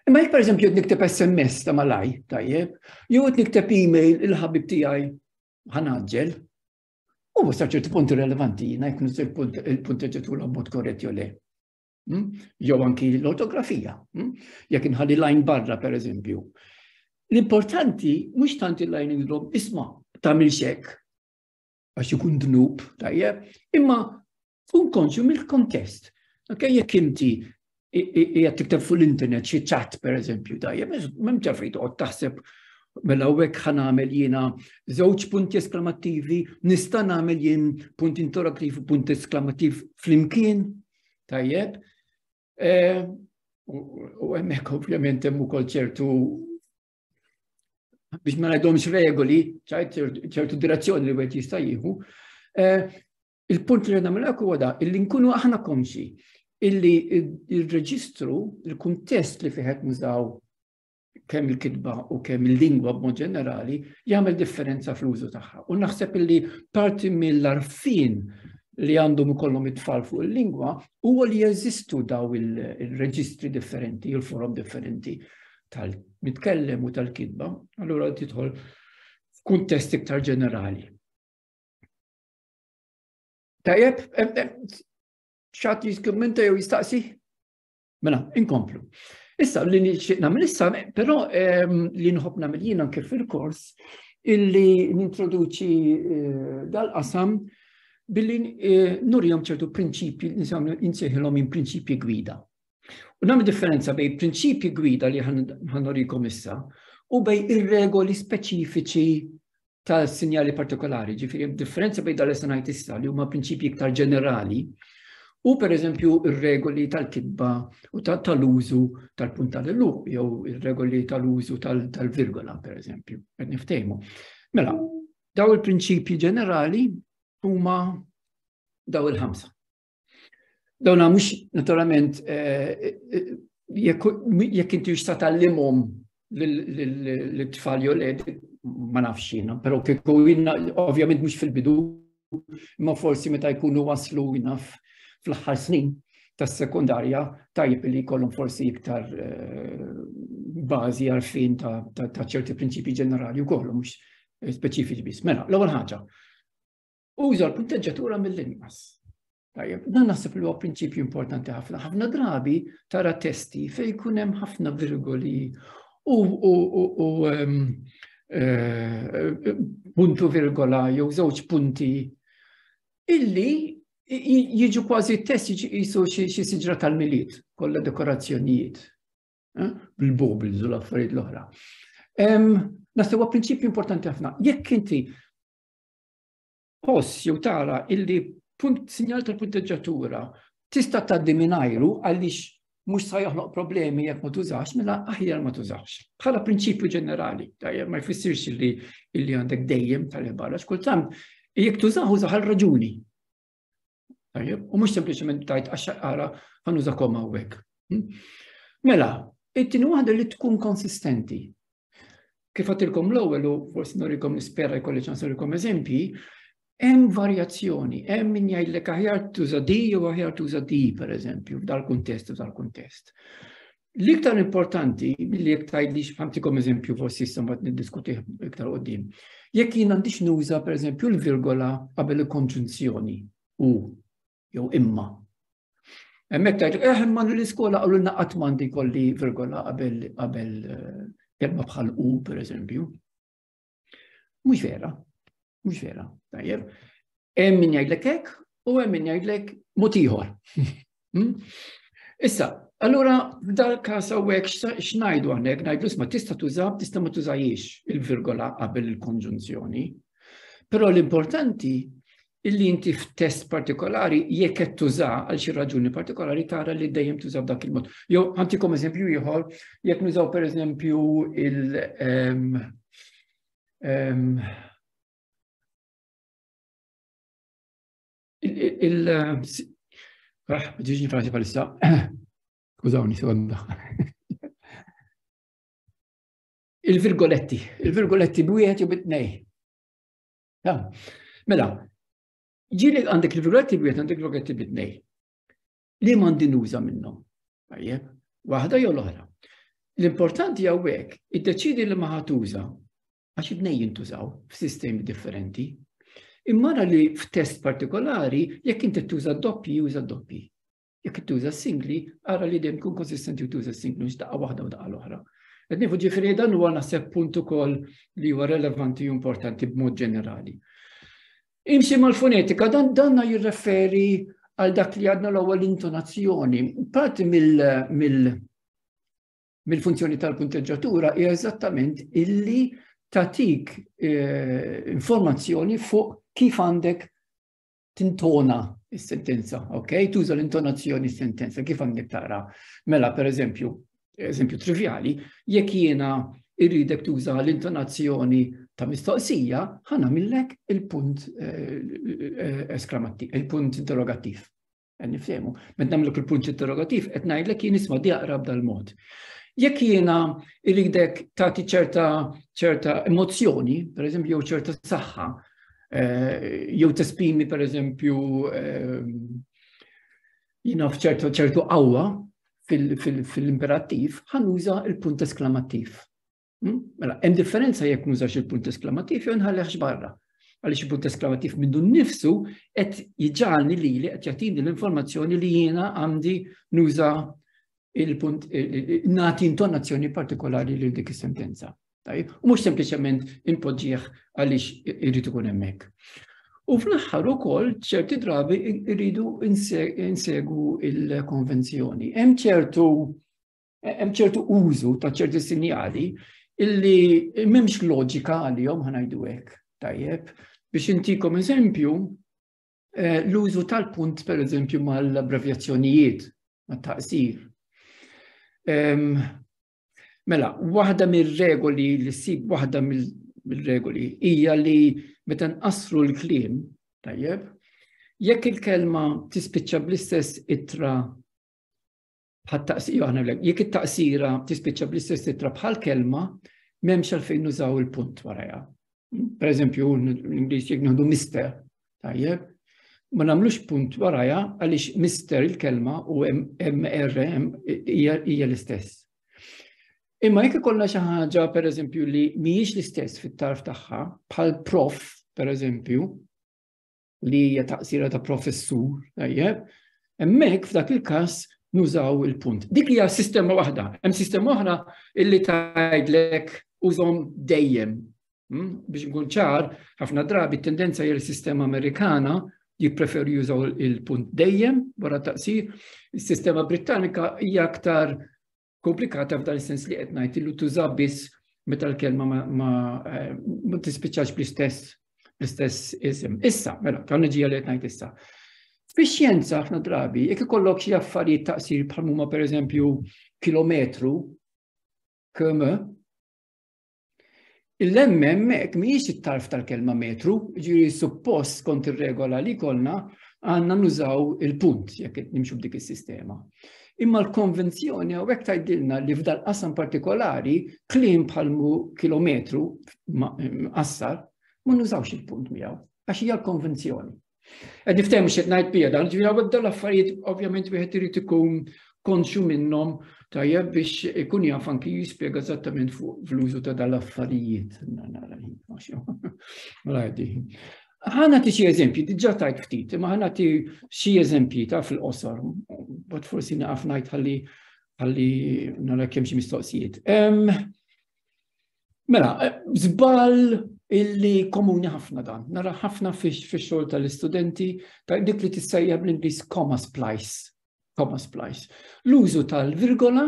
Imma jek per eżempju nikteb SMS ta' malaj, tajjeb, jew nikteb e-mail il-ħabib tiegħi ħanaġġel, U sa ċertu punti relevanti jina jkun il-punti ġetu l-abbot korret jo le. Hmm? Jew anki l-ortografija. Hmm? Jek nħalli lajn barra, per eżempju. L-importanti, mux tant il-lajn indrob, isma, ta' milxek, għax ikun dnub, tajjeb, imma Kun konxju mill-kontest. Anke jekk inti jgħat tikteb fuq l-internet xi ċat per eżempju tajjeb, mem ġafri toqgħod taħseb mela hekk ħan għamel jiena żewġ punti esklamativi, nista' nagħmel jien punt interattiv u punt esklamativi flimkien, tajjeb. Eh, u hemmhekk ovvjament hemm ukoll ċertu biex ma ngħidhomx regoli, ċertu direzzjoni li wieħed jista' jieħu. Eh, Il-punt li għedna mill-ek huwa da, illi nkunu aħna konxi illi il-reġistru, il-kuntest li fiħet nużaw kemm il-kitba u kemm il-lingwa b'mod ġenerali, jagħmel differenza fl-użu tagħha. U naħseb illi parti mill-arfin li għandhom ikollhom it-tfal fuq il-lingwa huwa li jeżistu daw il-reġistri differenti, il-forum differenti tal-mitkellem u tal-kitba, allura titħol f'kuntest iktar ġenerali. Tajjeb, xat jiskummenta jew jistaqsi? Mela, inkomplu. Issa, li nixtieq nagħmel issa, però ehm, li nħobb nagħmel jien anke fil-kors, illi nintroduċi eh, dal-qasam billi eh, nurjom ċertu prinċipji, insejħilhom minn prinċipji gwida. U nagħmel differenza bej prinċipji gwida li ħanorikom issa u bej ir-regoli speċifiċi ta' sinjali partikolari, ġifiri differenza bejn dal sanajt issa li huma prinċipji iktar ġenerali u per eżempju ir-regoli tal-kitba u tal-użu tal-punt tal-luq jew ir-regoli tal-użu tal-virgola per eżempju, qed niftejmu. Mela, daw il-prinċipji ġenerali huma daw il-ħamsa. Dawna mhux naturalment eh, eh, jekk inti jista' tallimhom l-tfal jew led ma nafx jiena, però kieku jiena ovvjament mhux fil-bidu imma forsi meta jkunu waslu jiena fl-aħħar snin tas-sekundarja tajjeb li jkollhom forsi iktar eh, bażi għarfien ta' ċerti prinċipji ġenerali u kollu mhux speċifiċi biss. Mela, l-ewwel ħaġa, Uża l-punteġġatura mill-inqas. Tajjeb, dan naħseb li huwa prinċipju importanti ħafna. Ħafna drabi tara testi fejn jkun hemm ħafna virgoli u eh, puntu virgola jew żewġ punti illi jiġu kważi test jisu xi siġra tal-miliet, kollha dekorazzjonijiet, eh, bil-bobl, zul affarijiet l-oħra. Naħseb huwa prinċipju importanti ħafna. Jekk inti Post jew tara illi punt sinjal tal-punteġġatura tista' tgħaddi mingħajru għaliex mhux sa joħloq problemi jekk ma tużax, mela aħjar ma tużax. Bħala prinċipju ġenerali, tajjeb ma jfissirx li illi għandek dejjem tal-barra, xkultant jekk tużaħ użaħ għal raġuni. U mhux sempliċement tajt għax ara ħanuża koma hawnhekk. Hm? Mela, it-tieni waħda li tkun konsistenti. Kif għatilkom l-ewwel u forsi norikom nispera jkolli ċans norikom eżempji, hemm varjazzjoni, hemm min jgħidlek aħjar tuża di jew aħjar tuża di pereżempju f'dal kuntest u dal-kuntest. L-iktar importanti, billi jek tajdix għamtikom eżempju forsi issa mbagħad niddiskuti iktar qoddim. Jekk jien għandix nuża per eżempju l-virgola qabel il-konġunzjoni u jew imma. Hemmhekk tajdu eh imma l-iskola qalu lna qatt m'għandi kolli virgola qabel qabel eh, kelma bħal u per eżempju. Mhux vera, mhux vera, tajjeb. Hemm min jgħidlek hekk u hemm min jgħidlek mod ieħor. Hmm? Issa, allura dal każ hawnhekk x'ngħidu hawnhekk ngħidu isma' tista' tuża tista' ma tużajiex il-virgola qabel il-konġunzjoni. Però l-importanti illi inti f'test partikolari jekk qed tuża għal xi raġuni partikolari tara li dejjem tuża b'dak il-mod. Jew ħantikom eżempju ieħor, jekk nużaw pereżempju il- ehm, ehm, il ah, ġiġi frasi palissa, skużawni, sekonda. Il-virgoletti, il-virgoletti b'wieħed jew bit-tnej. Mela, ġili għandek il-virgoletti b'wieħed għandek il-virgoletti b'itnej. Li m'għandi nuża minnhom. Tajjeb, waħda jew l-oħra. L-importanti hawnhekk iddeċidi li ma ħatuża għax id-nej jintużaw f'sistemi differenti. Immara li f'test partikolari jekk inti tuża doppji, juża doppji. Jekk tuża singli, ara li dejjem tkun konsistenti u tuża singli mhux daqqa waħda u daqqa l-oħra. Qed nieħu ġifieri dan huwa naħseb punt ukoll li huwa relevanti u importanti b'mod ġenerali. Imxi mal-fonetika dan danna jirreferi għal dak li għadna l-ewwel intonazzjoni. Parti mill-funzjoni tal-punteġġatura hija eżattament illi tatik eh, informazzjoni fuq kif għandek tintona s-sentenza, ok? Tuża l-intonazzjoni s-sentenza, kif għandek tara. Mela, per eżempju, eżempju trivjali, jekk jiena irridek tuża l-intonazzjoni ta' mistoqsija, ħana millek il-punt eh, eh, esklamattiv, il-punt interrogattiv. Eh, Nifsemu, met namlek il-punt interrogattiv, et najdlek jien isma diaqra b'dal-mod. Jekk jiena irridek tagħti ċerta ċerta emozzjoni, per eżempju, jew ċerta saħħa, jew tespimi per eżempju jina fċertu ċertu qawwa fil-imperattiv ħanuża il-punt esklamattiv. Hmm? Mela, hemm differenza jekk nużax il-punt esklamattiv jew nħallehx barra. Għaliex il-punt esklamattiv minnu nnifsu qed jiġġalni li li qed jagħtini l-informazzjoni li jiena għandi nuża il-punt nagħti intonazzjoni partikolari lil dik is-sentenza. Tajjeb, u mhux sempliċement inpoġġih għaliex irid ikun hemmhekk. U fl-aħħar ukoll ċerti drabi rridu insegu il-konvenzjoni. Hemm ċertu hemm ċertu użu ta' ċerti sinjali illi m'hemmx loġika għalihom ħanajdu hekk. Tajjeb, biex intikom eżempju, eh, l-użu tal-punt per eżempju mal-abbrevjazzjonijiet, mat-taqsir. Ehm, Mela, waħda mir-regoli li ssib waħda mill-regoli hija li meta nqassru l-kliem, tajjeb, jekk il-kelma tispiċċa bl-istess itra bħal taqsira jekk it-taqsira tispiċċa bl-istess itra bħal kelma, m'hemmx għalfejn nużaw il-punt warajha. Per eżempju, l-Ingliż jekk nieħdu mister, Tajjeb, ma nagħmlux punt waraja għaliex mister il-kelma u MRM hija l-istess. Imma jekk ikollna xi ħaġa pereżempju li mhijiex l-istess fit-tarf tagħha, bħal prof pereżempju, li hija taqsira ta' professur, tajjeb, hemmhekk f'dak il-każ nużaw il-punt. Dik hija sistema waħda, hemm sistema oħra illi tgħidlek użhom dejjem Hmm? Biex nkun ċar, ħafna drabi tendenza jel sistema Amerikana jippreferu jużaw il-punt dejjem wara taqsir. Is-sistema Britannika hija aktar komplikata f'dan is-sens li qed ngħid illu tuża biss meta l-kelma ma eh, tispiċċax bl-istess l-istess isem. Issa, mela, ta' nġija li qed ngħid issa. Fix-xjenza ħafna drabi, jekk ikollok xi affarijiet taqsir bħal huma pereżempju kilometru, km, Il-lemmem hekk mhijiex it-tarf tal-kelma metru, ġiri suppost kont ir-regola li kolna għandna nużaw il-punt jekk nimxu b'dik is-sistema. Imma l-konvenzjoni għawek tajdilna li f'dal qasam partikolari klim bħal kilometru qassar ma nużawx il-punt miegħu għax hija l-konvenzjoni. Għed niftem xed najt bija dan, ġviri għawek dal affarijiet ovvjament wieħed irid ikun konxu minnhom tajjeb biex ikun jaf anki jispjega eżattament fuq fl-użu ta' dal affarijiet. Ħana ti xie eżempji, diġa tajt ftit, ma ħana ti xie eżempji ta' fil-qosor, bat forsi naqaf najt ħalli ħalli nara kemm xi mistoqsijiet. Mela, zbal illi komuni ħafna dan, nara ħafna fix xogħol tal-istudenti, ta' dik li tissejja bl-Ingliż comma splice, comma splice. L-użu tal-virgola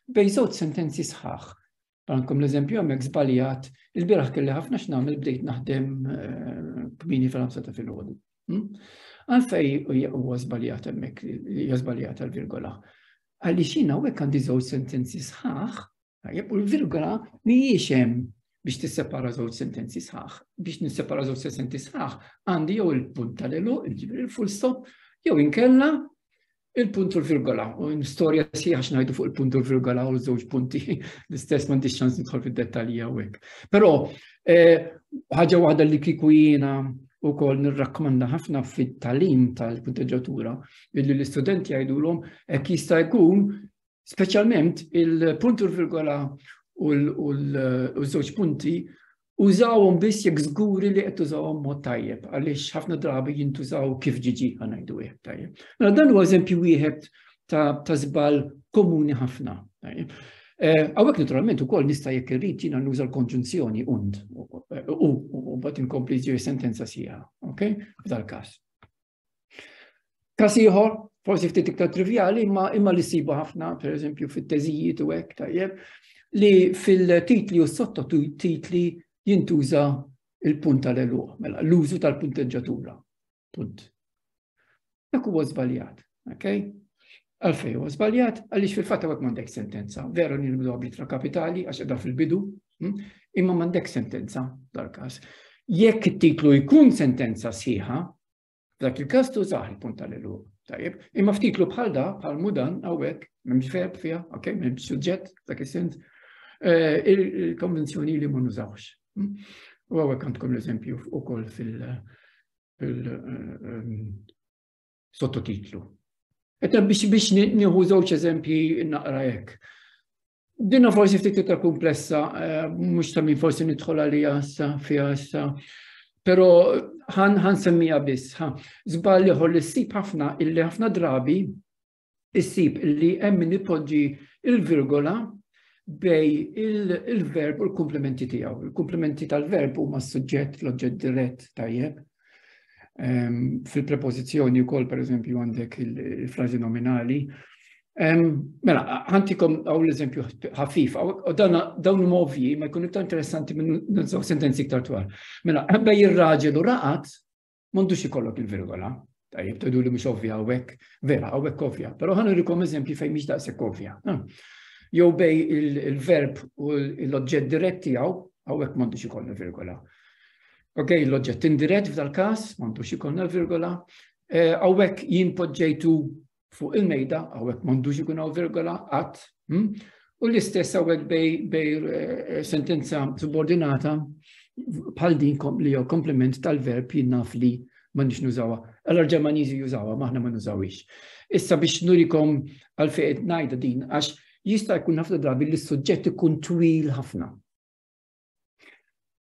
bej żewġ sentenzi sħaħ. Għankom l-eżempju għamek zbaljat, il-biraħ kelli ħafna x'nagħmel bdejt naħdem eh, kmini fil-ħamsa ta' fil-ħodu. Hmm? Għalfej huwa żbaljat hemmhekk, hija żbaljat tal-virgola. Għaliex jiena hawnhekk għandi żewġ sentenzi sħaħ Tajjeb, u l-virgola mhijiex hemm biex tissepara żewġ sentenzi sħaħ. Biex nissepara żewġ sentenzi sħaħ għandi jew il-punt tal-elu, il-ġibri il-full stop, jew inkella il-punt u l-virgola. U storja sieħa xnajdu fuq il-punt u l-virgola u żewġ punti l-istess ma ndix ċans nidħol fid-dettalji hawnhekk. Però eh, ħaġa waħda li kiku jiena u kol nirrakkomanda ħafna fit-talim tal-kunteġatura illi l-istudenti jgħidulhom hekk jista' jkun Speċjalment il-punt u l-virgola u l-żewġ punti użawhom biss jekk żguri li qed tużawhom mod tajjeb għaliex ħafna drabi jintużaw kif ġiġi ngħidu hekk tajjeb. Mela dan huwa eżempju wieħed ta' żball komuni ħafna. Eh, Għawek naturalment u koll nista jek irrit jina nuża l-konġunzjoni und u bat inkompli ġiri sentenza sija, ok? F'dal kas. Kas ieħor, forsi ftit iktar trivjali, imma imma li sibu ħafna, per eżempju, fit-teżijiet u hekk tajjeb, li fil-titli u sottotitli jintuża il-punt tal-eluq, mela l-użu tal-punteġġatura. Punt. Dak huwa żbaljat, ok? Għalfej huwa żbaljat għaliex fil-fatt hawnhekk m'għandek sentenza. Veru li nibdu b'litra kapitali għax qiegħda fil-bidu, hm? imma m'għandek sentenza dal-każ. Jekk it-titlu jkun sentenza sħiħa, dak il-każ tużaħ il-punt tal-eluq. Tajib, imma ftitlu bħal da, bħal mudan, għawek, memx verb fija, ok, memx suġġett, dak il-sens, eh, il-konvenzjoni li mun użawx. Hm? U għawek għandkom l-eżempju u koll fil- eh, ehm, sottotitlu. Eta biex biex nieħu żewġ eżempji naqra hekk. Dinna forsi ftit iktar komplessa, eh, mhux ta' min forsi nidħol għalija issa fiha issa. Però ħan ħan semmija biss, ħa żball ieħor li ssib ħafna illi ħafna drabi issib li hemm min ipoġġi il-virgola bej il-verb u l-komplementi tiegħu. Il-komplementi tal-verb huma s-suġġett, l-oġġett dirett tajjeb. Ehm, fil-prepożizzjoni wkoll pereżempju għandek il-frażi nominali. Ehm, mela, ħantikom għaw l-eżempju ħafif, u dawn huma ovvji, ma jkun iktar interessanti minn sentenzi iktar twal. Mela, bej ir-raġel u raqat, M'għandux ikollok il-virgola. Tajjeb, tgħidu li mhux ovvja hawnhekk, vera hawnhekk ovvja, però ħa nurikom eżempji fejn mhix daqshekk ovvja. Jew bej il-verb u l-oġġett dirett tiegħu hawnhekk m'għandux ikollna virgola. Ok, l-oġġett indirett f'dal-każ m'għandux ikollna virgola. Hawnhekk eh, jien poġġejtu fuq il-mejda, għawek mandux ikun għaw virgola, għat, hm? u l-istess għawek bej eh, sentenza subordinata bħal din li jew komplement tal-verb jinnaf li ma nix nużawa. Allora ġermanizi jużawa, maħna ma nużawix. Issa biex nurikom għal-fejt najda din, għax jista' jkun ħafna drabi li s-suġġett ikun twil ħafna.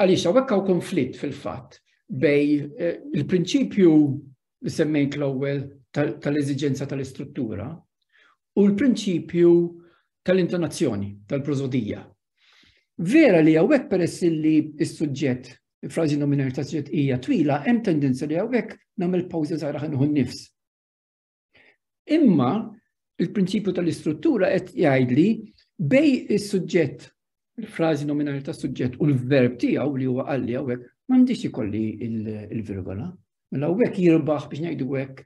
Għaliex hawnhekk hawn konflitt fil-fatt bej eh, il-prinċipju li semmejt l-ewwel tal-eżiġenza tal-istruttura u l-prinċipju tal-intonazzjoni, tal-prozodija. Vera li għawek peress li s-sujġet, frazi nominali ta' sujġet hija twila, hemm tendenza li għawek namel pawza zaħra ħanħu nifs. Imma il-prinċipju tal-istruttura qed jgħidli bej is-suġġett il-frażi nominali ta' suġġett u l-verb tiegħu li huwa qalli hawnhekk m'għandix ikolli il-virgola. Mela hawnhekk jirbaħ biex ngħidu hekk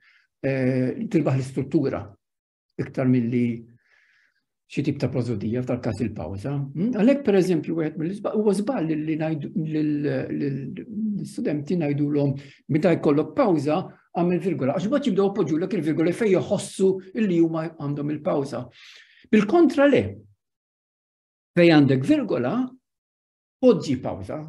eh, tirbaħ l-istruttura iktar milli xi tip ta' prosodija f'dal każ il-pawża. Hmm? Għalhekk pereżempju wieħed mill-isbaq huwa żball li ngħidu l-istudenti ngħidulhom meta jkollok pawża għamil virgola għax bad jibdew poġġulek il-virgola fejn joħossu li huma għandhom il-pawża. Bil-kontra le. Fejn għandek virgola, Poġġi pawza,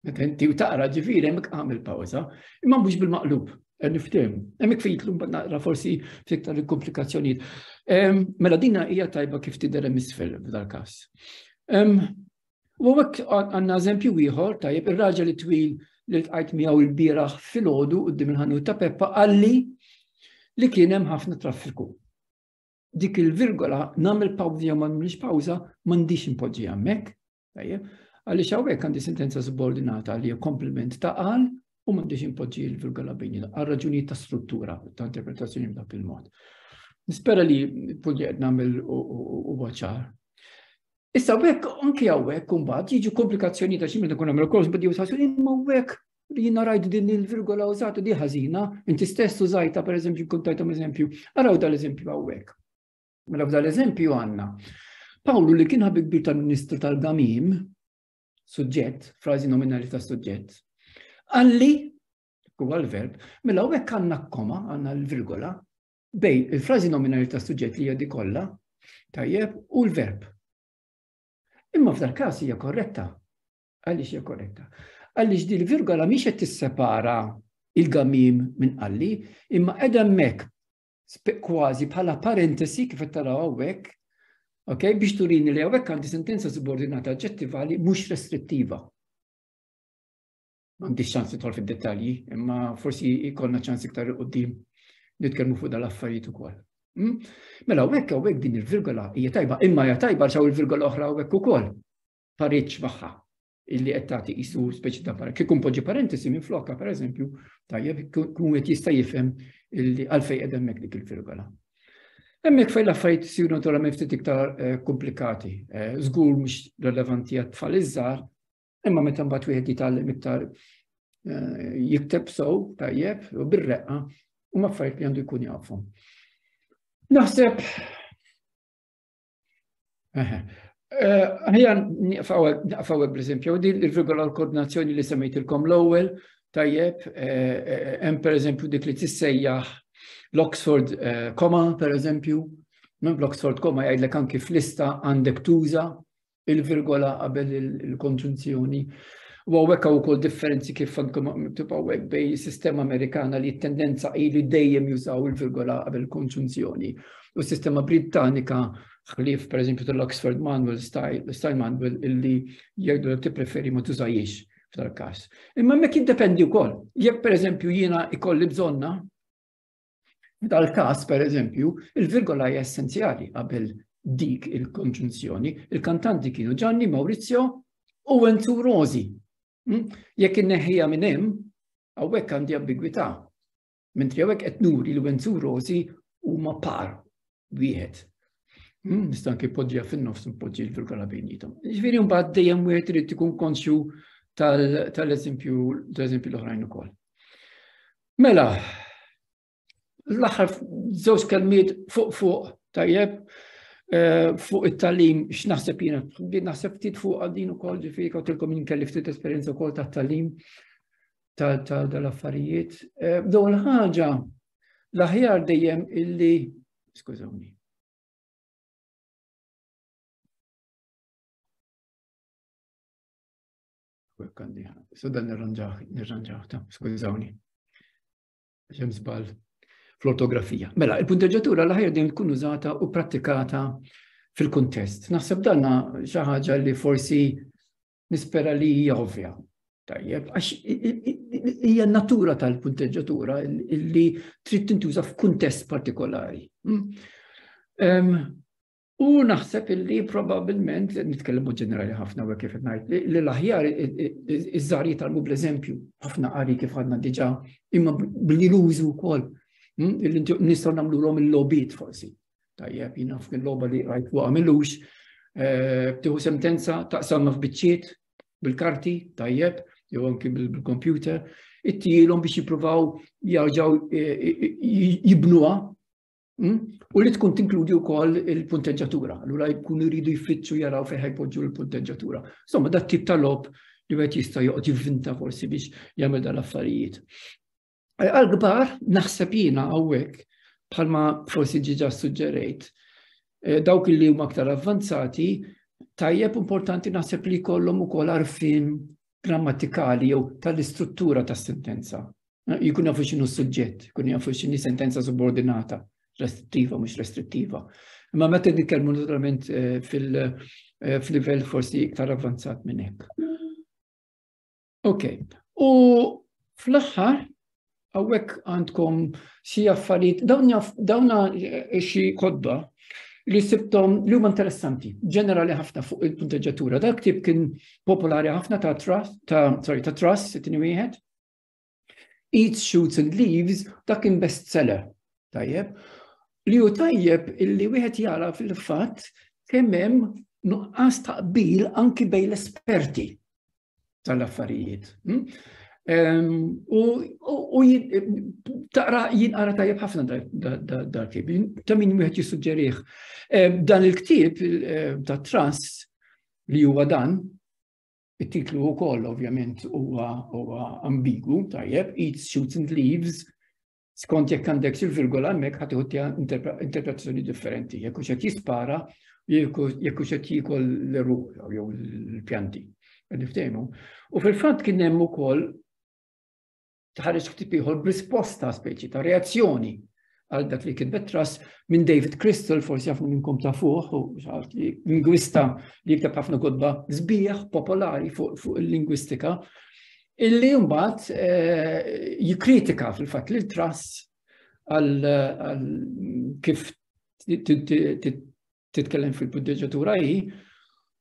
meta inti u taqra ġifiri, hemmhekk għamil pawza, imma mhux bil-maqlub, niftim. Hemmhekk fejtlu mbagħad naqra forsi fiktar il-komplikazzjonijiet. Mela dina hija tajba kif tidher hemm isfel f'dal-każ. U hekk għandna eżempju ieħor tajjeb ir-raġel twil li tqajt miegħu l-bieraħ filgħodu qudiem il-ħanut ta' Peppa qalli li kien hemm ħafna traffiku. dik il-virgola nagħmel pawża jew ma nagħmilx pawża m'għandix impoġġi hemmhekk. Tajjeb, għaliex hawnhekk għandi sentenza subordinata li komplement ta' qal u m'għandix impoġġi l-virgola bejn għal raġunijiet ta' struttura ta' interpretazzjoni b'dak il-mod. Nispera li punti qed nagħmel u waċar. Issa wek, anki għawek, kumbat, jiġu komplikazzjoni ta' ximil ikun għamil kors bidi u sasu, imma wek jina rajt din il-virgola użata di ħażina, inti stess użajta per eżempju kuntajtom eżempju, araw dal-eżempju għawek. Mela dal-eżempju għanna. Pawlu li kien ħabib kbir tal-Ministru tal-Gamim, suġġett, frażi nominali ta' suġġett, għalli, huwa l-verb, mela għawek għanna koma, għanna l-virgola, bej il-frażi nominali ta' suġġett li jadi kollha, tajjeb, u l-verb. Imma f'dal każ hija korretta, Għaliex hija korretta? Għaliex din virgola mhix qed tissepara il-gamim minn qalli, imma qiegħda hemmhekk kważi bħala parentesi kif qed taraw hawnhekk, ok, biex turini li hawnhekk għandi sentenza subordinata aġġettivali mhux restrittiva. Għandi ċans titħol fid-dettalji, imma forsi jkollna ċans iktar qudiem nitkellmu fuq dal-affarijiet ukoll. Hmm? Mela, u hekk din il-virgola hija tajba, imma hija tajba xaw il-virgola oħra u hekk ukoll. pariċ magħha illi qed tagħti qisu speċi ta' para. Kikun poġġi parentesi minn flokka, per eżempju, tajjeb, kun qed jista' jifhem illi għalfej qed hemmhekk dik il-virgola. Hemmhekk fejn l-affarijiet isiru naturalment ftit iktar eh, komplikati. Eh, żgur mhux relevanti għat tfal iż-żgħar, imma meta mbagħad wieħed jitgħallem iktar eh, jikteb sow tajjeb u bir-reqqa u affarijiet li għandu jkun jafhom. Naħseb Ħajja naqfaw per eżempju, din il-regola l-koordinazzjoni li semmejtilkom l-ewwel, tajjeb, hemm per eżempju dik li tissejjaħ l-Oxford Koma, per eżempju, minn l-Oxford Koma jgħidlek anki fl-lista għandek tuża il-virgola qabel il-konġunzjoni. U għawek għaw kol differenzi kif għandkom tibqa għawek bej sistema Amerikana li tendenza li dejjem jużaw il-virgola qabel konġunzjoni. U s-sistema Britannika ħlief per eżempju tal-Oxford Manual Style, Style Manual illi jgħidu li tippreferi ma tużajiex f'dal każ. Imma mek jiddependi wkoll. Jekk per eżempju jiena ikolli bżonna dal-każ per eżempju, il-virgola hija essenzjali qabel dik il-konġunzjoni. Il-kantanti kienu Gianni Maurizio u Enzu Rosi. Hm? Jekk inneħħija minn hemm, hawnhekk għandi ambigwità Mentri hawnhekk qed nuri li Wenzu Rosi huma par wieħed. Hmm, nista' anke poġġija fin-nofs npoġġi l-vulkana bejnietom. Ġifieri mbagħad dejjem wieħed irid ikun konxju tal-eżempju tal-eżempju l-oħrajn ukoll. Mela, l-aħħar żewġ kelmiet fuq fuq tajjeb eh, fuq it-talim x'naħseb jiena naħseb ftit fuq għaddin ukoll ġifieri kawtilkom jien kelli ftit esperjenza wkoll tat-talim ta' dal-affarijiet. Eh, dawn ħaġa l-aħjar dejjem illi, skużawni. Sudan nirranġaħ ta' skużawni. Ġem zbal fl-ortografija. Mela, il-punteġġatura l-ħajja din tkun użata u pratikata fil-kuntest. Naħseb danna xi ħaġa li forsi Nispera li hija ovvja. Tajjeb, għax hija natura tal-punteġġatura li trid tintuża f'kuntest partikolari. Hmm? U naħseb illi probabilment, nitkellmu ġenerali ħafna u kif ngħid, li l-aħjar iż-żar jitalmu bl-eżempju, ħafna qari kif għadna diġà, imma billi l-użu wkoll, hmm? nistgħu nagħmluhom il-lobit forsi. Tajjeb, jina f'din loba li għajt fuqa millux, eh, tiħu sentenza taqsamma f'biċċiet bil-karti, tajjeb, jew anki bil-kompjuter, it-tielom biex jipruvaw jarġaw eh, eh, jibnuha hmm? u li tkun tinkludi wkoll il-punteġġatura. Allura jkunu jridu jfittxu jaraw fejn ħajpoġġu l-punteġġatura. Insomma, dat tip tal-lob li għet jista' joqgħod jivvinta forsi biex jagħmel dal-affarijiet. Għal-gbar, naħseb jina għawek, bħalma forsi ġiġa suġġerejt, eh, dawk li huma aktar avvanzati, tajjeb importanti naħseb li kollom u koll arfin grammatikali jew tal-istruttura tas sentenza eh, Jikun jafu xinu suġġett, jikun jafu xinu sentenza subordinata, restrittiva, mux restrittiva. Ma meta nitkellmu naturalment eh, fil-livell forsi iktar avvanzat minn hekk. Ok, u fl-aħħar għawek għandkom xi affarijiet, dawna eh, xi kodba li sibtom li huma interessanti, ġenerali ħafna fuq il-punteġġatura. Dak tip kien popolari ħafna ta' trust, ta' sorry, ta' trust, it wieħed. Eats, shoots and leaves, dak kien best seller. Tajjeb. Li hu tajjeb illi wieħed jara fil-fatt kemm hemm nuqqas taqbil anki bejn l-esperti. tal-affarijiet. Hm? U taqra jinqara tajjeb ħafna dal-kib, ta' min wieħed jissuġġerih. Dan il-ktib ta' trans li huwa dan, it-titlu wkoll ovvjament huwa ambigu tajjeb, Eat Shoots and Leaves, Skont jekk għandek xi virgola hemmhekk ħadd iħu interpretazzjoni differenti, jekk hux qed jispara, jekk hux qed jiekol l-eruq jew l-pjanti. Niftehmu. U fil-fatt kien hemm ukoll tħares ftit ieħor b'risposta speċi ta' reazzjoni għal dak li kien betras minn David Crystal, forsi għafna minnkom ta' fuq, u xaħat li lingwista li jikteb ħafna kodba zbieħ popolari fuq il-lingwistika, illi mbagħad eh, jikkritika fil-fatt li l-trust għal kif titkellem fil-puddeġatura hi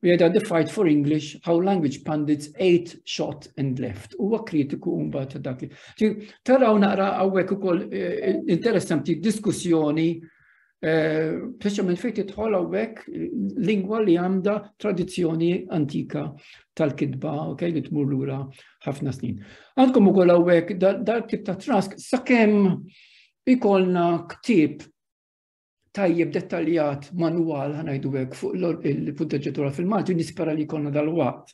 u jgħidha the fight for English, how language pundits ate, shot and left. Huwa kritiku mbagħad ta' dak. Taraw naqra hawnhekk ukoll eh, interessanti diskussjoni Speċjalment fejn tidħol hawnhekk lingwa li għandha tradizzjoni antika tal-kitba, ok, li tmur lura ħafna snin. Għandkom ukoll hawnhekk dal tip ta' trask sakemm ikolna ktib tajjeb dettaljat manwal ħanajdu hekk fuq il-punteġġatura fil-Malti nispera li jkollna dal-waqt.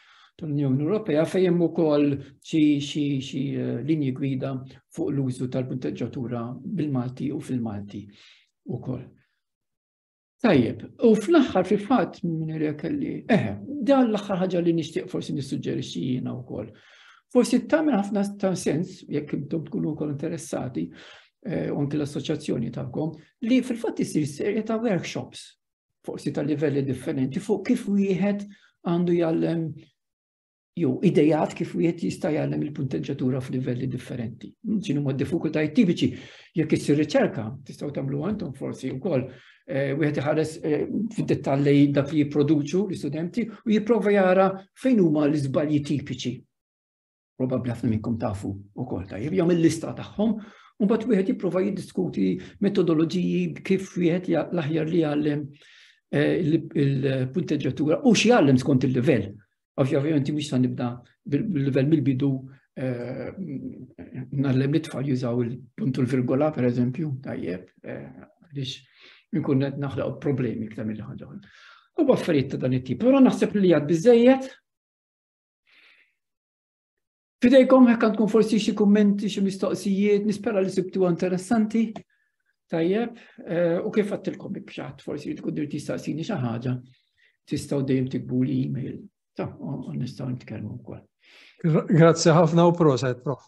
tal-Unjoni Ewropea fejn hemm ukoll xi eh, linji gwida fuq l-użu tal-punteġġatura bil-Malti u fil-Malti ukoll. Tajjeb, u fl-axħar fi fatt minn kelli, eħe, dan l-axħar ħaġa li nixtieq forsi nissuġġerixxi jiena wkoll. Forsi tagħmel ħafna ta' sens, jekk intom tkunu wkoll interessati, eh, u anke l-assoċjazzjoni tagħkom, li fil-fatt isir serje ta' workshops forsi ta' livelli differenti fuq kif wieħed għandu jgħallem jew idejat kif wieħed jista' jgħallem il-punteġġatura f'livelli differenti. Ġinu ma' diffikultajiet tipiċi jekk issir riċerka, tistgħu tagħmlu għandhom forsi wkoll eh, wieħed iħares eh, fid-dettall li dak li jipproduċu l-istudenti u jipprova jara fejn huma l-iżbalji tipiċi. probabbli ħafna minnkom tafu wkoll tajjeb, jagħmel il-lista tagħhom u mbagħad wieħed jipprova jiddiskuti metodoloġiji kif wieħed l-aħjar li jgħallem eh, il-punteġġatura u xi jgħallem skont il-livell. Ovvjament mhux sa nibda bil-livell mill-bidu eh, nallem li tfal jużaw il-punt u l-virgola per eżempju, tajjeb, eh, għaliex nkun qed naħlaq problemi iktar mill-ħaġa. U affarijiet ta' dan it-tip. Però naħseb li għad biżejjed Fidejkom hekk għandkom forsi xi kummenti, xi mistoqsijiet, nispera li sibtu interessanti. Tajjeb, eh, u kif għattilkom bik xaħt forsi li tkun dirti staqsini xi ħaġa, tistgħu dejjem tikbu li email. Ta' nistgħu nitkellmu wkoll. Grazzi ħafna u proset, prof.